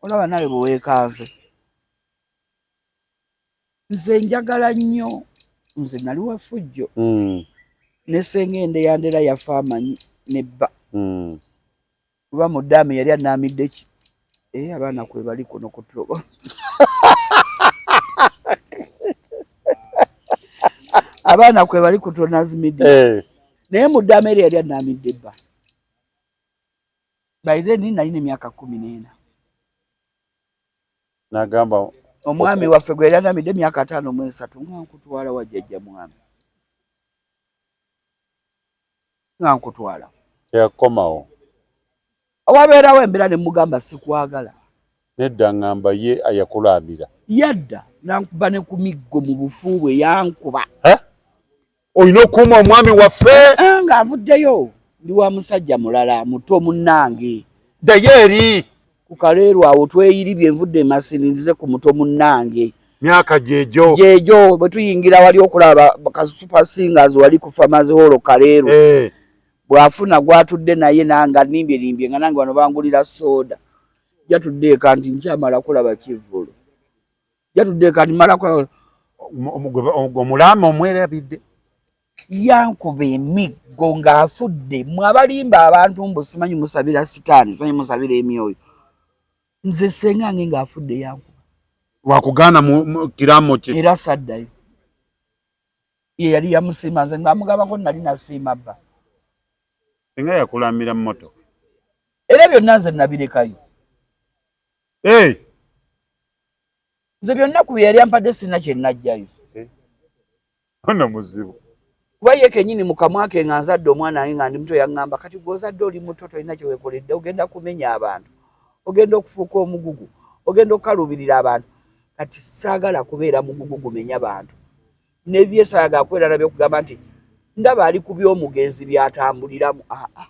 olaba nawe bwewekanze nze njagala nnyo nze nali wafujjo hmm. nesenga ende yandera yafa amanyi nebba hmm. kuba mudamu yali anamidde Eh, abaana kwebali kuno kutuloba abaana kwebali kutonazimidi eh. naye mudama eri yali anamidde bba by then nalina emyaka kumi nena nagamba omwami waffe gwe yali anamidde emyaka ataano mwesatu nga nkutwala wajjajja mwami nga nkutwala teyakomawo awabeerawo embeera ne mugamba sikwagala nedda ngamba ye ayakulaamira yadda nankuba ne ku miggo mu bufu bwe yankuba olina okuuma omwami waffe eh, nga avuddeyo ndi wa musajja mulala muto munnange ddayo eri Ku kaleero awo tweyiribye nvudde emasini nzize ku muto munnange. Myaka gyejo. Gyejo bwe tuyingira wali okulaba ka super singers wali ku farmers hall kaleero. Eh. Bwafuna gwatudde naye nanga nimbye nimbye nga nange wano bangulira soda. Jatudde eka nti nkyamala kulaba kivvulu. Jatudde eka nti mala kulaba. Omulama omwerabidde. yankuba emiggo ng'afudde mwe abalimba abantu mbu simanyi musabira sitaani simanyi musabira emyoyo nze senga nge ng'afudde yankuba lwakugaana kiraamo kye era saddayo ye yali yamusiima nze ng'amugabako nali nasiima bba senga yakulamira moto era byonna nze nabirekayo eh! nze byonna ku bye yali ampadde sirina kye najjayo ono muzibu kuba ye kenyini mukamwa ke nga nzadde omwana wange nga ndi muto yaŋŋamba kati gwe ozadde oli muto tolina kye weekoledde ogenda kumenya abantu ogenda okufuuka omugugu ogenda okukaluubirira abantu kati saagala kubeera mugugu gumenya bantu nebyesayaga akwerana byokugamba nti ndaba ali ku by'omugenzi byatambuliramu aa ah, ah.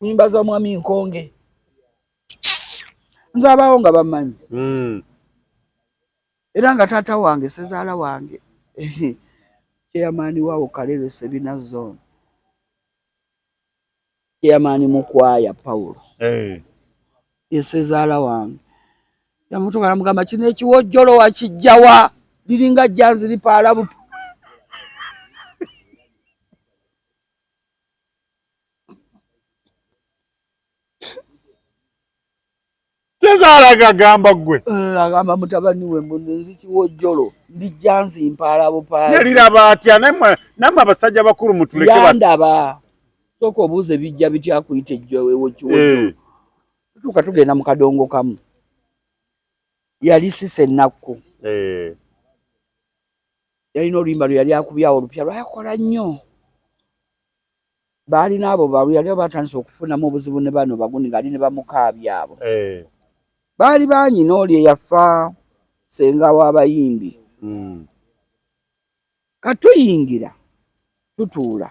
Nyimba za mwami Nkonge nzabaawo nga bamanyi hmm. era nga taata wange sezaala wange kyeyamaani waawo kalebe sebina zone kyeyamaani mukwaya pawulo yesezaala wange yamutuka namugamba kino ekiwojjolo wakijjawa liringa janzi lipaalabupu tezaalaga agamba gwe eh, agamba mutabani we mbuno nzikiwa ojjolo ndijja nzimpaala bupaala yaliraba atya namwe abasajja bakulu mutuleke yandaba soka obuuza ebijja bitya kuyita ejjoewokiwojjolo eh. tutuuka tugenda mu kadongo kamu yali sisa ennakku eh. yalina oluyimba lwe yali akubyawo olupya lwayakola nnyo Baalina abo baluya lyo batandise okufunamu obuzibu ne bano baguni ng'ali ne bamukaabi abo. Eh. Baali baanyina oli eyafa ssenga w'abayimbi. Mm. Kati tuyingira tutuula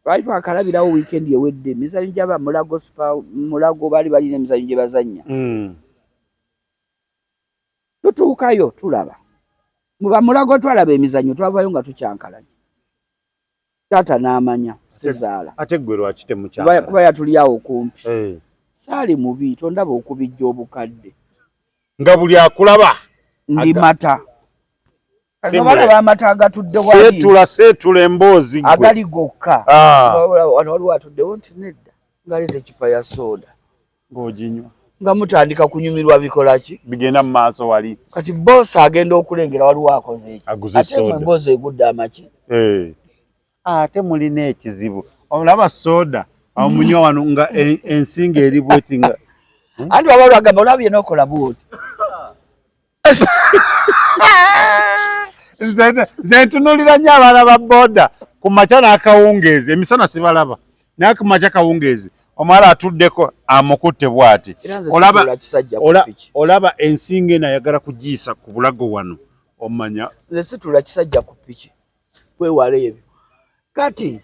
twali twakalabirawo wiikendi ewedde emizanyo gyaba mulago supa mulago baali balina emizanyo gye bazannya mm. tutuukayo tulaba mu bamulago twalaba emizanyo twavayo nga tukyankalanye taata n'amanya sizaala ate ggwe lwaki temukyala kuba yatuli awo kumpi eh. saali mubi tondaba okubijja obukadde nga buli akulaba ndi mata amata agatuddesetula setula emboozi agali gokka ah. wano waliwo atuddewo nti nedda ngaleeta ekipa ya sooda ng'oginywa nga mutandika kunyumirwa bikola ki bigenda mu maaso wali kati boss agenda okulengera waliwo akoze eki ate mwe mboozi egudde amaki eh. ate mulina ekizibu olaba soda amunywa wano nga e, ensinga eri bweti nga anti waba lwagamba olaba byena okola bwoti nze ntunulira nyo abaana ba boda ku makya n'akawungeezi emisana sibalaba naye ku makya kawungeezi omwala atuddeko amukutte bwati olaba ensinga eno ayagala kugiyisa ku bulago wano omanya nze situla kisajja ku piki kwewala ebyo kati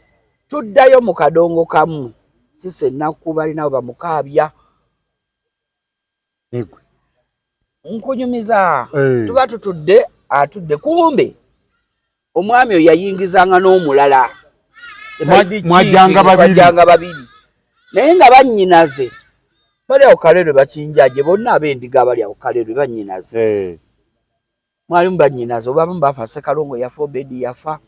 tuddayo mu kadongo kamu sise ennaku balinabo bamukaabya negwe nkunyumiza eh. tuba tutudde atudde kumbe omwami oyo yayingizanga n'omulala mwajjanga babiri naye nga bannyinaze bali awo kalerwe bakinjaje bonna ab'endiga abali awo kalerwe bannyinaze eh. mwalimu bannyinaze obabamu bafa sekalongo yafa obedi yafa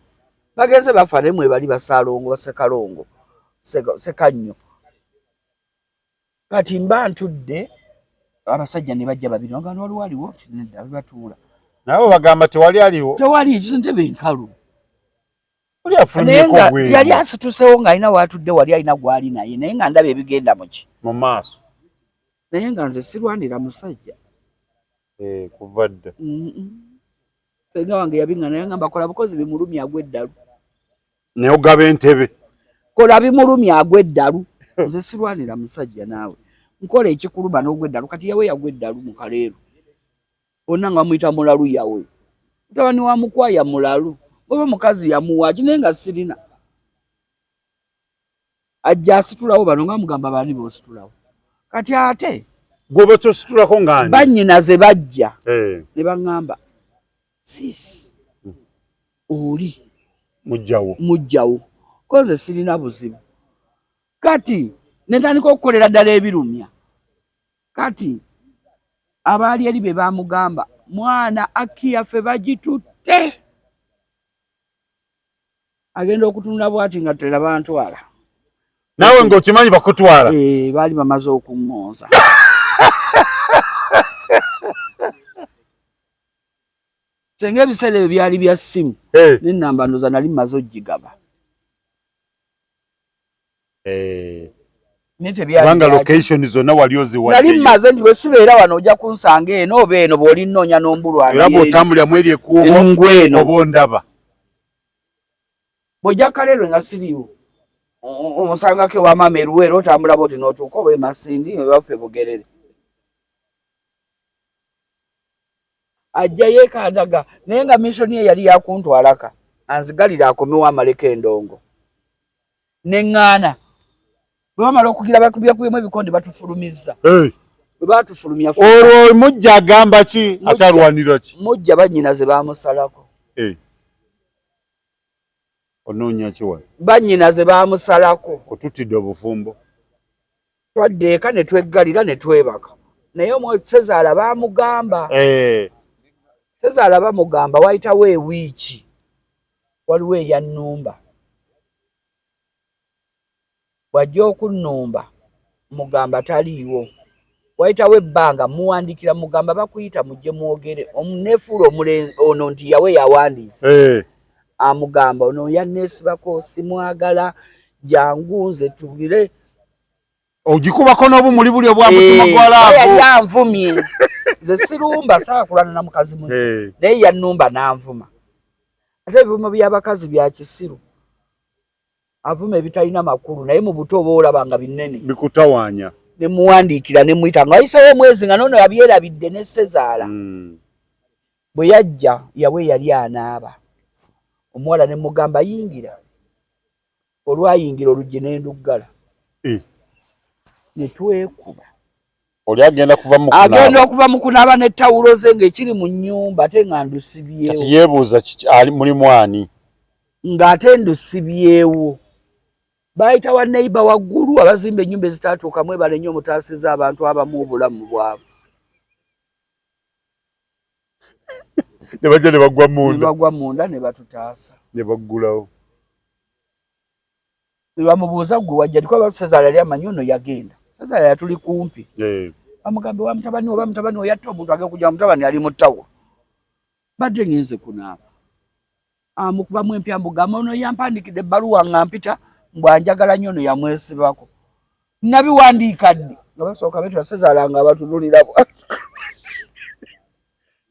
bagenze bafa naye mwebali basalongo basekalongo sekannyo kati mba ntudde abasajja ne bajja babiri nga wano waliwo aliwo nedda batuula nabo bagamba tewali aliwo tewali ntebe enkalu yali asitusewo ng'alina waatudde wali alina gwali naye naye nga ndaba ebigenda muki mu maaso naye nga nze sirwanira musajja eh, kuva dda senga wange yabiŋana yangamba kola bukozi bimulumya agweddalu naye ogaba entebe kola bimulumi agwa eddalu nze sirwanira musajja naawe nkola ekikuluma n'ogwa eddalu kati yawe yagwa eddalu mu kaleero onna nga bamuyita mulalu yawe mutabani wa mukwaya mulalu oba mukazi yamuwaaki naye nga sirina ajja asitulawo bano nga mugamba bani bositulawo kati ate gwoba kyositulako ngani banyina ze bajja eh. ne baŋŋamba sis oli mujjawo mujjawo koze sirina buzibu kati netandika okukolera ddala ebirumya kati abaali eri be bamugamba mwana akiyaffe bagitutte agenda okutunula bwati nga tela bantwala nawe nga okimanyi bakutwala eh bali bamaze okungonza senga ebiseera ebyo byali bya simu eh. nenamba ndoza nali maze ojigaba kubanga location zonna wali oziwaddeyo nali mmaze nti bwe sibeera wano ojja kunsanga eno oba eno bw'olinnoonya n'ombulwa era bw'otambulira mweri ekuubo ngweno oba ondaba bw'ojja kaleerwe nga siriwo omusangako ewa maama eruweera otambula bwoti n'otuuka oba emasindi ewaffe bugerere ajja yeekadaga naye nga missoni ye yali yakuntwalaka anzigalira akomewo amaleko endongo ne ŋŋaana bwe bamala okugira bakubyakubyamu ebikonde batufulumizza bwe batufulumya olwo mujja agamba ki atalwanira ki mujja bannyina ze baamusalako onoonya kiwa bannyina ze baamusalako otuttidde obufumbo twadda eka ne tweggalira ne twebaka naye omwoyo sezaala bamugamba sezaala bamugamba wayitawo ewiiki Waliwo eyannumba, bw'ajja okunnumba mmugamba taliiwo. Wayitawo ebbanga mmuwandiikira mmugamba bakuyita mujje mwogere. Nneefuula omulenzi ono nti yawe yawandiise. Amugamba ono yanneesibako simwagala, jangu nze tubire. ogikubako n'obumuli buli obwa eh, mutima gwa laavu yali anvumye nze sirumba saakulana na mukazi mu eh. naye yannumba n'anvuma ate ebivumo by'abakazi bya kisiru avuma ebitalina makulu naye mu buto oba olaba nga binene bikutawaanya ne muwandiikira ne muyita nga wayisewo omwezi nga noono yabyerabidde ne sezaala hmm. bwe yajja yawe yali anaaba omuwala ne mugamba yingira Olwayingira oluggi ne nduggala ne twekuba. Oli agenda kuva mu kunaaba. Agenda okuva mu kunaaba ne tawulo ze ng'ekiri mu nnyumba ate nga ndusibyewo. Kati yeebuuza mulimu ani? Ng'ate ndusibyewo. Baayita wa neyiba waggulu abazimba ennyumba ezitaatuuka mwebale nnyo mutaasiza abantu abamu obulamu bwabwe. ne bajja ne bagwa munda ne bagwa munda ne batutaasa ne baggulawo ne bamubuuza gwe wajja tikuba basezaala yali amanyi ono yagenda sezaala yatuli kumpi bamugambe wa mutabani oba mutabani oyatta omuntu agekuja mutabani ali mu tawo badde ngenze kunaaba amukubamu ah, empya mbugamba ono yampandikidde ebbaluwa nga mpita mbw anjagala nnyo ono yamwesibako nabiwandiika ddi nga basooka betwasezalanga abatunulira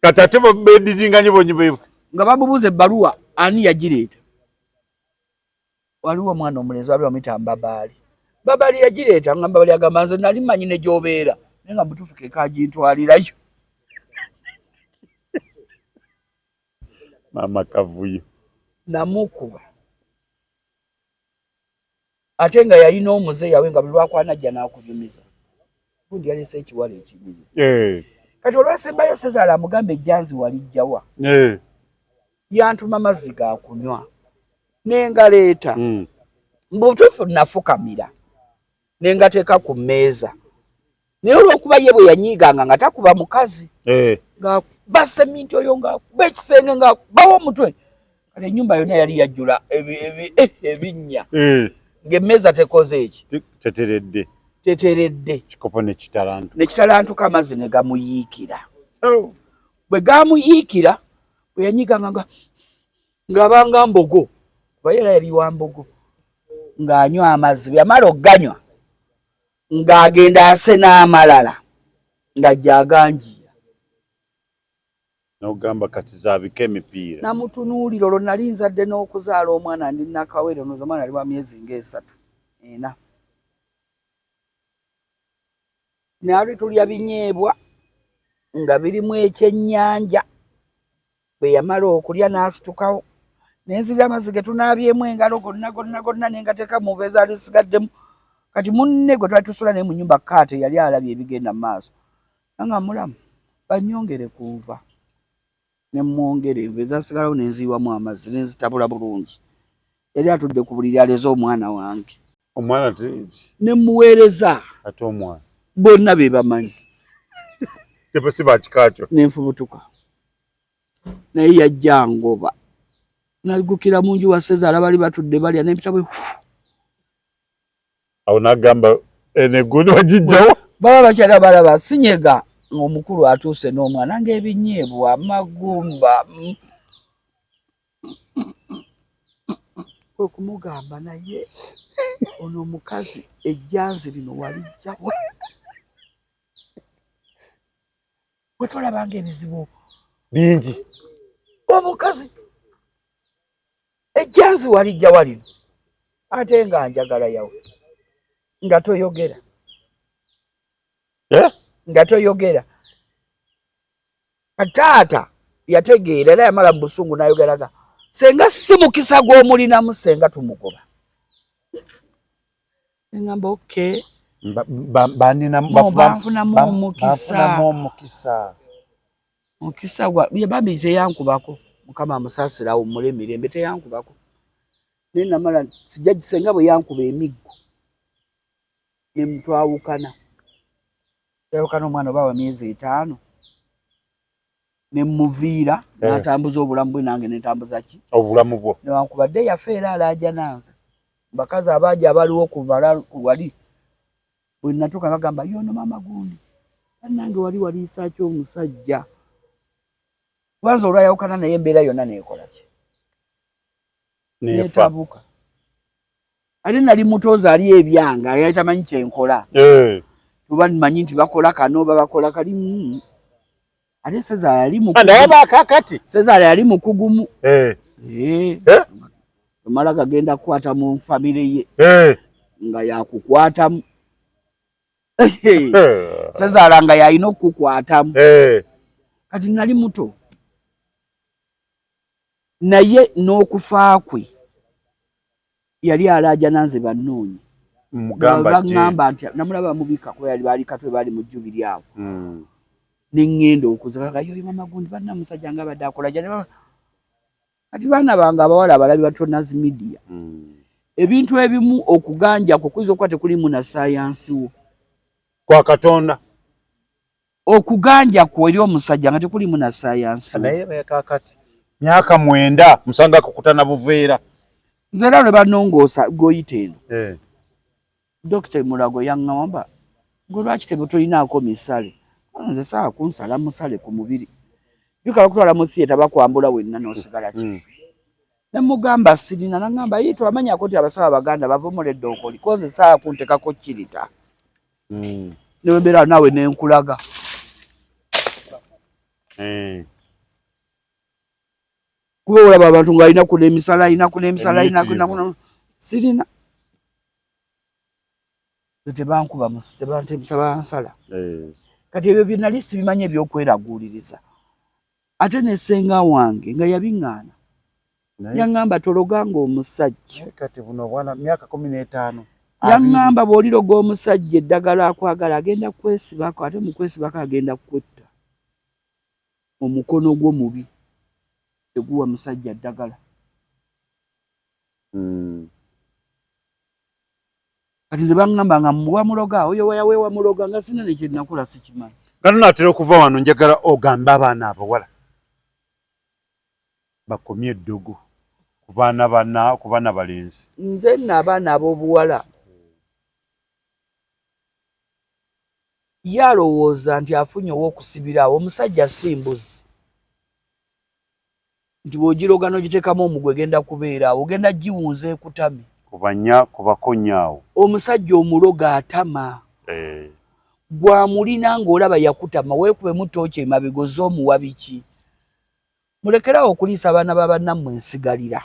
kati ate bediringanyi bonyibebwe nga bamubuuza ebbaluwa ani yagireeta waliwo omwana omulenzi wali wamuyita mbabaali mbabaali yagireeta nga mbabaali agamba nze nali manyi ne gyobeera naye nga mutuufu kekagintwalirayo Mama kavuyo. Namukuba. Ate nga yalina omuze yawe nga buli lwakwana ajja n'akunyumiza. Gundi yalese ekiwala ekinyumiza. Eh. Kati olwasembayo Sezaala amugambe ejjanzi walijjawa. Eh. Yantuma mazzi ga kunywa. Nengaleeta. Mm. Mbutufu nafukamira. ne ngateeka ku mmeeza naye olwokuba ye bwe yanyiiganga nga takuba mukazi eh. ng'akuba seminti oyo ng'akuba ekisenge ng'akubawo omutwe kale ennyumba yonna yali yajjula eh, ebinnya eh. ng'emmeeza tekoze eki teteredde teteredde kikopo nekitalantu nekitalantuka amazzi ne gamuyiikira oh. bwe gamuyiikira bwe yanyiiganga nga ng'abanga mbogo kuba yera yali wa mbogo ng'anywa amazzi bwe yamala okuganywa ng'agenda ase n'amalala nga gyaganjiira nogamba kati zabika emipiira namutunuulira olwo nali nzadde n'okuzaala omwana ndi nakawere noza omwana ali wa myezi ng'esatu ena nali tulya binyeebwa nga birimu ekyennyanja Bwe yamala okulya n'asitukawo ne nzirira amazzi ge tunaabyemu engalo gonna gonna gonna ne ngateeka mu nva ezaali zisigaddemu. Kati munne gwe twali tusula naye mu nnyumba Kaate yali alabye ebigenda mu maaso era nga mulamu. Bannyongere ku nva ne mmwongera enva ezaasigalawo ne nziyiwamu amazzi ne nzitabula bulungi. Yali atudde ku buliri aleze omwana wange. omwana ne muweereza ate omwana bonna be bamanyi tebasi bakikakyo nenfubutuka naye yajja ngoba nagukira mu nju wasezaala bali batudde balya nempita bwe awo nagamba enegundi wagijjawo baba bakyala balaba sinyega ng'omukulu atuuse n'omwana ng'ebinyeebwa amagumba kwe kumugamba naye ono omukazi ejjanzi lino walijjawa bwe tolabanga ebizibu bingi omukazi ejjanzi walijjawa lino ate nga njagala yawe nga toyogera eh? nga toyogera taata yategeera era yamala mu busungu nayogeraga senga si mukisa gw'omulinamu senga tumugoba engamba okay banfunamu omukisa mukisa gwa bambi teyankubako mukama amusaasira awummule emirembe teyankubako naye namala sijja gisenga bwe yankuba emiggo ne mutwawukana yayokana omwana oba wa myezi etaano nemuviira eh. natambuza obulamu bwe nange netambuza ki obulamu bwo newankubadde yafe era alajananze bakazi abaaja abaliwo kubala wali bwenatuka bagamba yono mama gundi banange wali waliisaki omusajja kubanza olwayawukana naye embeera yonna nekolaki netabuka ate nali muto nze ali ebyanga ayali tamanyi kyenkola eh. tuba manyi nti bakola kano oba bakola kali mm. ate sezaala yali mukakati sezaala yali mukugumu eh. eh. omala gagenda kukwata mu famire ye nga yakukwatamu sezaala nga yalina okukukwatamu kati nali muto naye n'okufa kwe yali alaajana nze bannoonye baŋŋamba nti namulaba mubika kuba yali baali katwe baali mu jjubiri awo hmm. ne ŋŋenda okuzika nga yoyo mama gundi banna musajja nga abadde akola jani kati baana bange abawala abalabi batonas media hmm. ebintu ebimu okuganja kwe kuyinza okuba tekulimu na sayansi wo kwa katonda okuganja kwo eri omusajja nga tekulimu na sayansi naye kakati myaka mwenda musanga kukutana buveera nze era lwe banongoosa goyita eno eh. dokita mulago yaŋŋamba gwe lwaki tebe tolinaako misale nze saa kunsala musale ku mubiri bikala kutwala mu siyeta bakwambula wenna n'osigala ki mm. ne mugamba sirina naŋŋamba yii twamanyako nti abasawo abaganda bavumula eddookoli ko nze saa kuntekako kirita mm. newembeera naawe nenkulaga eh. kuba olaba abantu nga alina kuna emisala alina kuna emisala alina sirina tebankuba musi tebantebusa bansala eh. kati ebyo byenali sibimanyi ebyokweraguuliriza ate ne senga wange nga yabiŋŋaana yaŋŋamba tologa ng'omusajja kati buno obwana myaka kumi n'etaano yaŋŋamba bw'oliroga omusajja eddagala akwagala agenda kwesibako ate mu kwesibako agenda kukwetta omukono gwo mubi teguwa musajja ddagala hmm. kati nze bangamba nga muwa muloga oyo wayawewa muloga nga sina nekyenakula sikimanyi nga tunatera okuva wano njagala ogambe abaana abawala bakomye eddogo ku baana bana ku baana balenzi nze nno abaana ab'obuwala ye alowooza nti afunye ow'okusibiraawo omusajja si mbuzi nti bw'ogiroga n'ogiteekamu omugwa egenda kubeera awo, ogenda giwunza ekutame. Kubanya, kubakonya awo. Omusajja omuloga atama. Eh. Ggwe amulina ng'olaba yakutama, weekubemu ttooci emabega ozze omuwa biki? Mulekere awo okuliisa abaana ba bannammwe ensigalira.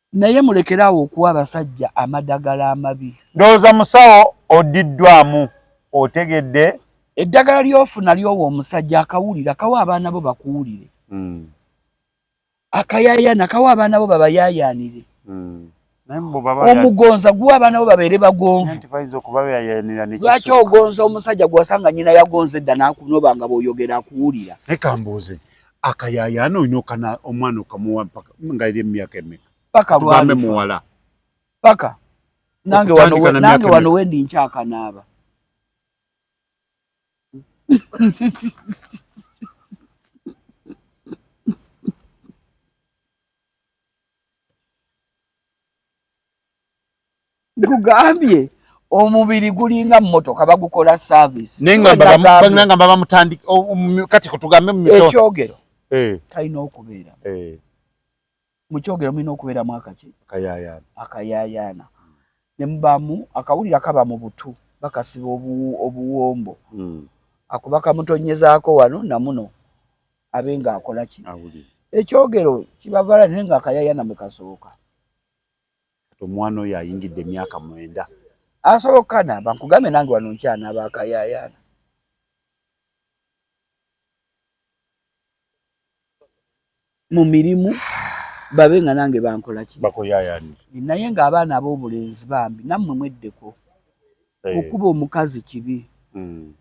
Naye mulekere awo okuwa abasajja amadagala amabi. Ndowooza musawo oddiddwamu. Otegedde? Eddagala ly'ofuna ly'owa omusajja akawulira kawa abaana bo bakuwulire. Hmm. Akayayaana kawa abaana bo babayaayaanire. Hmm. Omugonza guwa abaana bo babeere bagonvu. Lwaki ogonza omusajja gw'osanga nnyina yagonza edda n'akunoba nga bw'oyogera akuwulira? Leka mbuuze. Akayaayaana olina okana omwana okamuwa mpaka nga eri emyaka emeka paka tugambe muwala paka nange wano wendi nkyakanaaba nkugambye omubiri gulinga mmotoka bagukola service naye nga babamutandika kati kutugambe ekyogero eh. kalina okubeera eh. mu kyogero mulina okubeeramu akaki akayayaana ne mubamu akawulira kaba mu butu bakasiba obuwombo hmm. akuba kamutonyezaako wano namuno abe ng'akola ki ekyogero kibavaala naye ng'akayayaana mwe kasooka Kati omwana oyo ayingidde emyaka mwenda. Asobola okukanaaba nkugambye nange wano nkyanaaba akayaayaana. Mu mirimu babe nga nange bankola ki? Bakuyaayaanira. Naye ng'abaana ab'obulenzi bambi nammwe mweddeko. Okuba omukazi kibi. Hmm.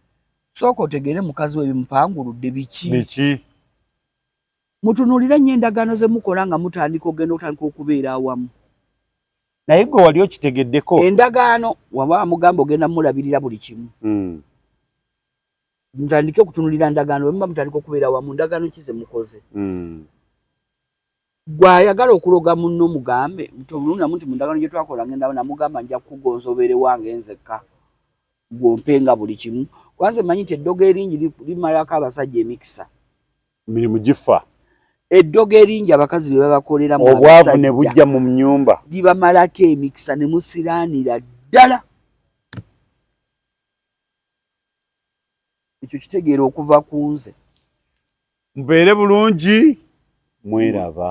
Sooka otegeere mukazi we bimupanguludde biki? Biki? Mutunuulire nnyo endagaano ze mukola nga mutandika okugenda okutandika okubeera awamu. Naye gwe wali okitegeddeko? Endagaano waba amugamba ogenda mulabirira buli kimu. Hmm. Mutandike okutunulira ndagaano bwe muba mutandika okubeera awamu ndagaano ki ze mukoze. Hmm. Gwe ayagala okuloga munno mugambe nti olunnamu nti mu ndagaano gye twakola ngenda namugamba nja kukugonza obeere wange nzekka gw'ompe nga buli kimu. Kuba nze mmanyi nti eddogo eringi limalako abasajja emikisa. mirimu gifa eddogo eringi abakazi lye babakolera mu obwavu ne bujja mu nnyumba libamalako emikisa ne musiraanira ddala ekyo kitegeera okuva ku nze mubeere bulungi mweraba